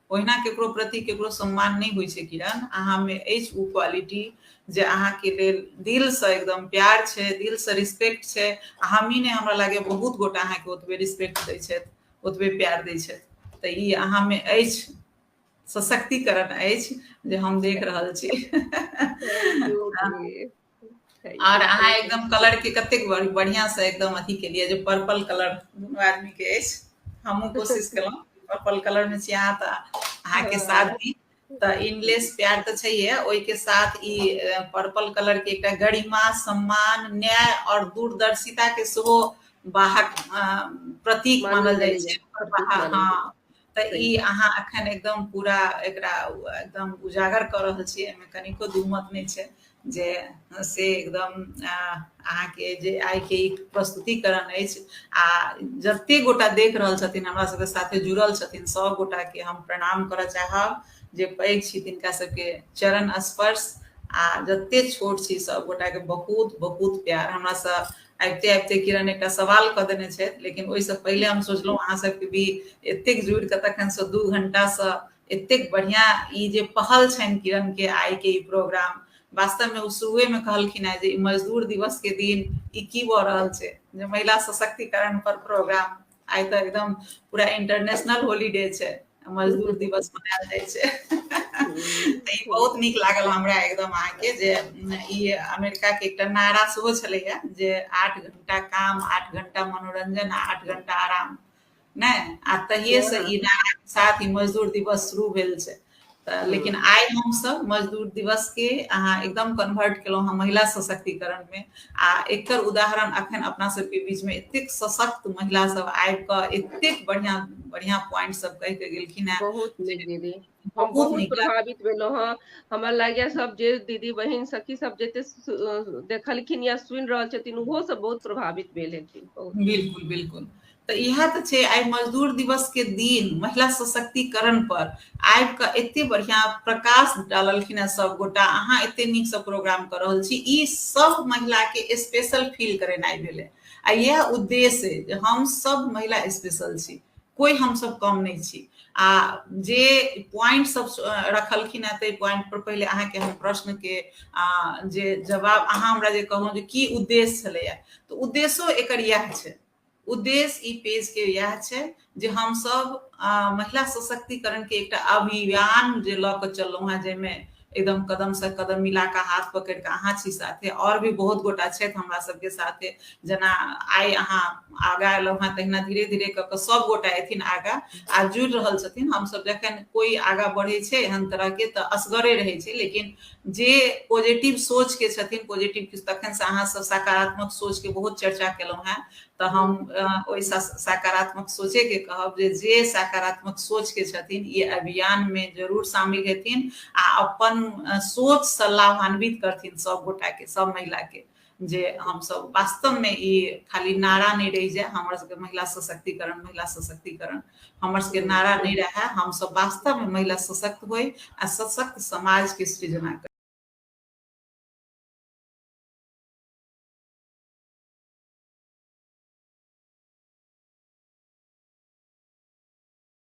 ओहिना केकरो प्रति केकरो सम्मान नहि होइ छै किरण अहाँमे अछि ओ क्वालिटी जे अहाँके लेल दिलसँ एकदम प्यार छै दिलसँ रिस्पेक्ट छै आ हमही नहि हमरा लागैए बहुत गोटा अहाँके ओतबे रिस्पेक्ट दै छथि ओतबे प्यार दै छथि तऽ ई अहाँमे अछि सशक्तिकरण अछि जे हम देख रहल छी आर अहाँ एकदम कलर के कतेक बढ़िया से एकदम अथी के लिए जो पर्पल कलर दोनों आदमी के हमू कोशिश केलहुँ पर्पल कलर में छी अहाँ तऽ अहाँ के साथ भी तऽ इनलेस प्यार तऽ छैहे ओहिके साथ ई पर्पल कलर के एक गरिमा सम्मान न्याय और दूरदर्शिता के सेहो बाहक प्रतीक मानल जाए छै हाँ तऽ ई अहाँ अखन एकदम पूरा एकरा एकदम उजागर कऽ रहल छी एहिमे कनिको दूमत नहि छै जे से एकदम अहाँके जे आइके ई प्रस्तुतिकरण अछि आ जते गोटा देख रहल छथिन हमरा सबके साथे जुड़ल छथिन सब गोटा के हम प्रणाम करऽ चाहब जे पैघ छी तिनका सबके चरण स्पर्श आ जते छोट छी सब गोटा के बहुत बहुत प्यार हमरा सब आबिते आबिते किरण एकटा सवाल कऽ देने छथि लेकिन ओहिसँ पहिले हम सोचलहुँ अहाँ सबके भी एतेक जुड़ि कऽ तखनसँ दू घंटासँ एतेक बढ़िआँ ई जे पहल छनि किरणके आइके ई प्रोग्राम वास्तवमे ओ शुरुएमे कहलखिन हेँ जे ई मजदूर दिवसके दिन ई की भऽ रहल छै जे महिला सशक्तिकरण पर प्रोग्राम आइ तऽ एकदम पूरा इंटरनेशनल हॉलीडे छै मजदूर दिवस मनायल जाइ छै तऽ ई बहुत नीक लागल हमरा एकदम अहाँके जे ई अमेरिकाके एकटा नारा सेहो छलैए जे आठ घंटा काम आठ घंटा मनोरंजन आ आठ घंटा आराम नहि आ तहिए से ई नारा के साथ ई मजदूर दिवस शुरू भेल छै तऽ लेकिन आइ हमसभ मजदूर दिवसके अहाँ एकदम कन्वर्ट केलहुँ हँ महिला सशक्तिकरणमे आ एकर उदाहरण अखन अपना सबके बीचमे एतेक सशक्त महिला सब आबि कऽ एतेक बढ़िआँ बढ़िआँ पॉइंट सब कहि कऽ गेलखिन हेँ बहुत नीक दीदी हम बहुत प्रभावित भेलहुँ हँ हमरा लागैए सब जे दीदी बहिन सखी सब जते देखलखिन या सुनि रहल छथिन ओहो सब बहुत प्रभावित भेल हेथिन बिल्कुल बिल्कुल तऽ इएह तऽ छै आइ मजदूर दिवसके दिन महिला सशक्तिकरणपर आबि कऽ एतेक बढ़िआँ प्रकाश डाललखिन हेँ सभगोटा अहाँ एतेक नीकसँ प्रोग्राम कऽ रहल छी ई सभ महिलाके स्पेशल फील करेनाइ भेलै आ इएह उद्देश्य अइ जे हम सभ महिला स्पेशल छी कोइ हमसभ कम नहि छी आ जे पॉइंट सब रखलखिन हेँ ताहि पॉइंट पर पहिले अहाँके हम प्रश्नके जे जवाब अहाँ हमरा जे कहलहुँ जे की उद्देश्य छलैए तऽ उद्देश्यो एकर इएह छै उद्देश्य ई पेज के यह छै जे हम सब महिला सशक्तिकरण के एकटा अभियान जे लऽ कऽ चललहुँ हेँ जाहिमे एकदम कदम से कदम मिला कऽ हाथ पकड़ कऽ अहाँ छी साथे और भी बहुत गोटा छथि हमरा सबके साथे जेना आइ अहाँ आगा एलहुँ हेँ तहिना धीरे धीरे कऽ कऽ सब गोटा एथिन आगा आ जुड़ि रहल छथिन हमसब जखन कोई आगा बढ़ै छै एहन तरह के तऽ असगरे रहै छै लेकिन जे पॉजिटिव सोच के छथिन पॉजिटिव किछु तखन से अहाँ सब सकारात्मक सोच के बहुत चर्चा केलहुँ हैं तऽ हम ओहि सकारात्मक सोचे के कहब जे जे सकारात्मक सोच के छथिन ई अभियान में जरूर शामिल हेथिन आ अपन सोच से लाभान्वित करथिन सब गोटा के सब महिला के जे हमसब वास्तव में ई खाली नारा नहीं रही जाए हमर सबके महिला सशक्तिकरण महिला सशक्तिकरण हमर सबके नारा नहीं रहे हम सब वास्तव में महिला सशक्त हो आ सशक्त समाज के सृजना कर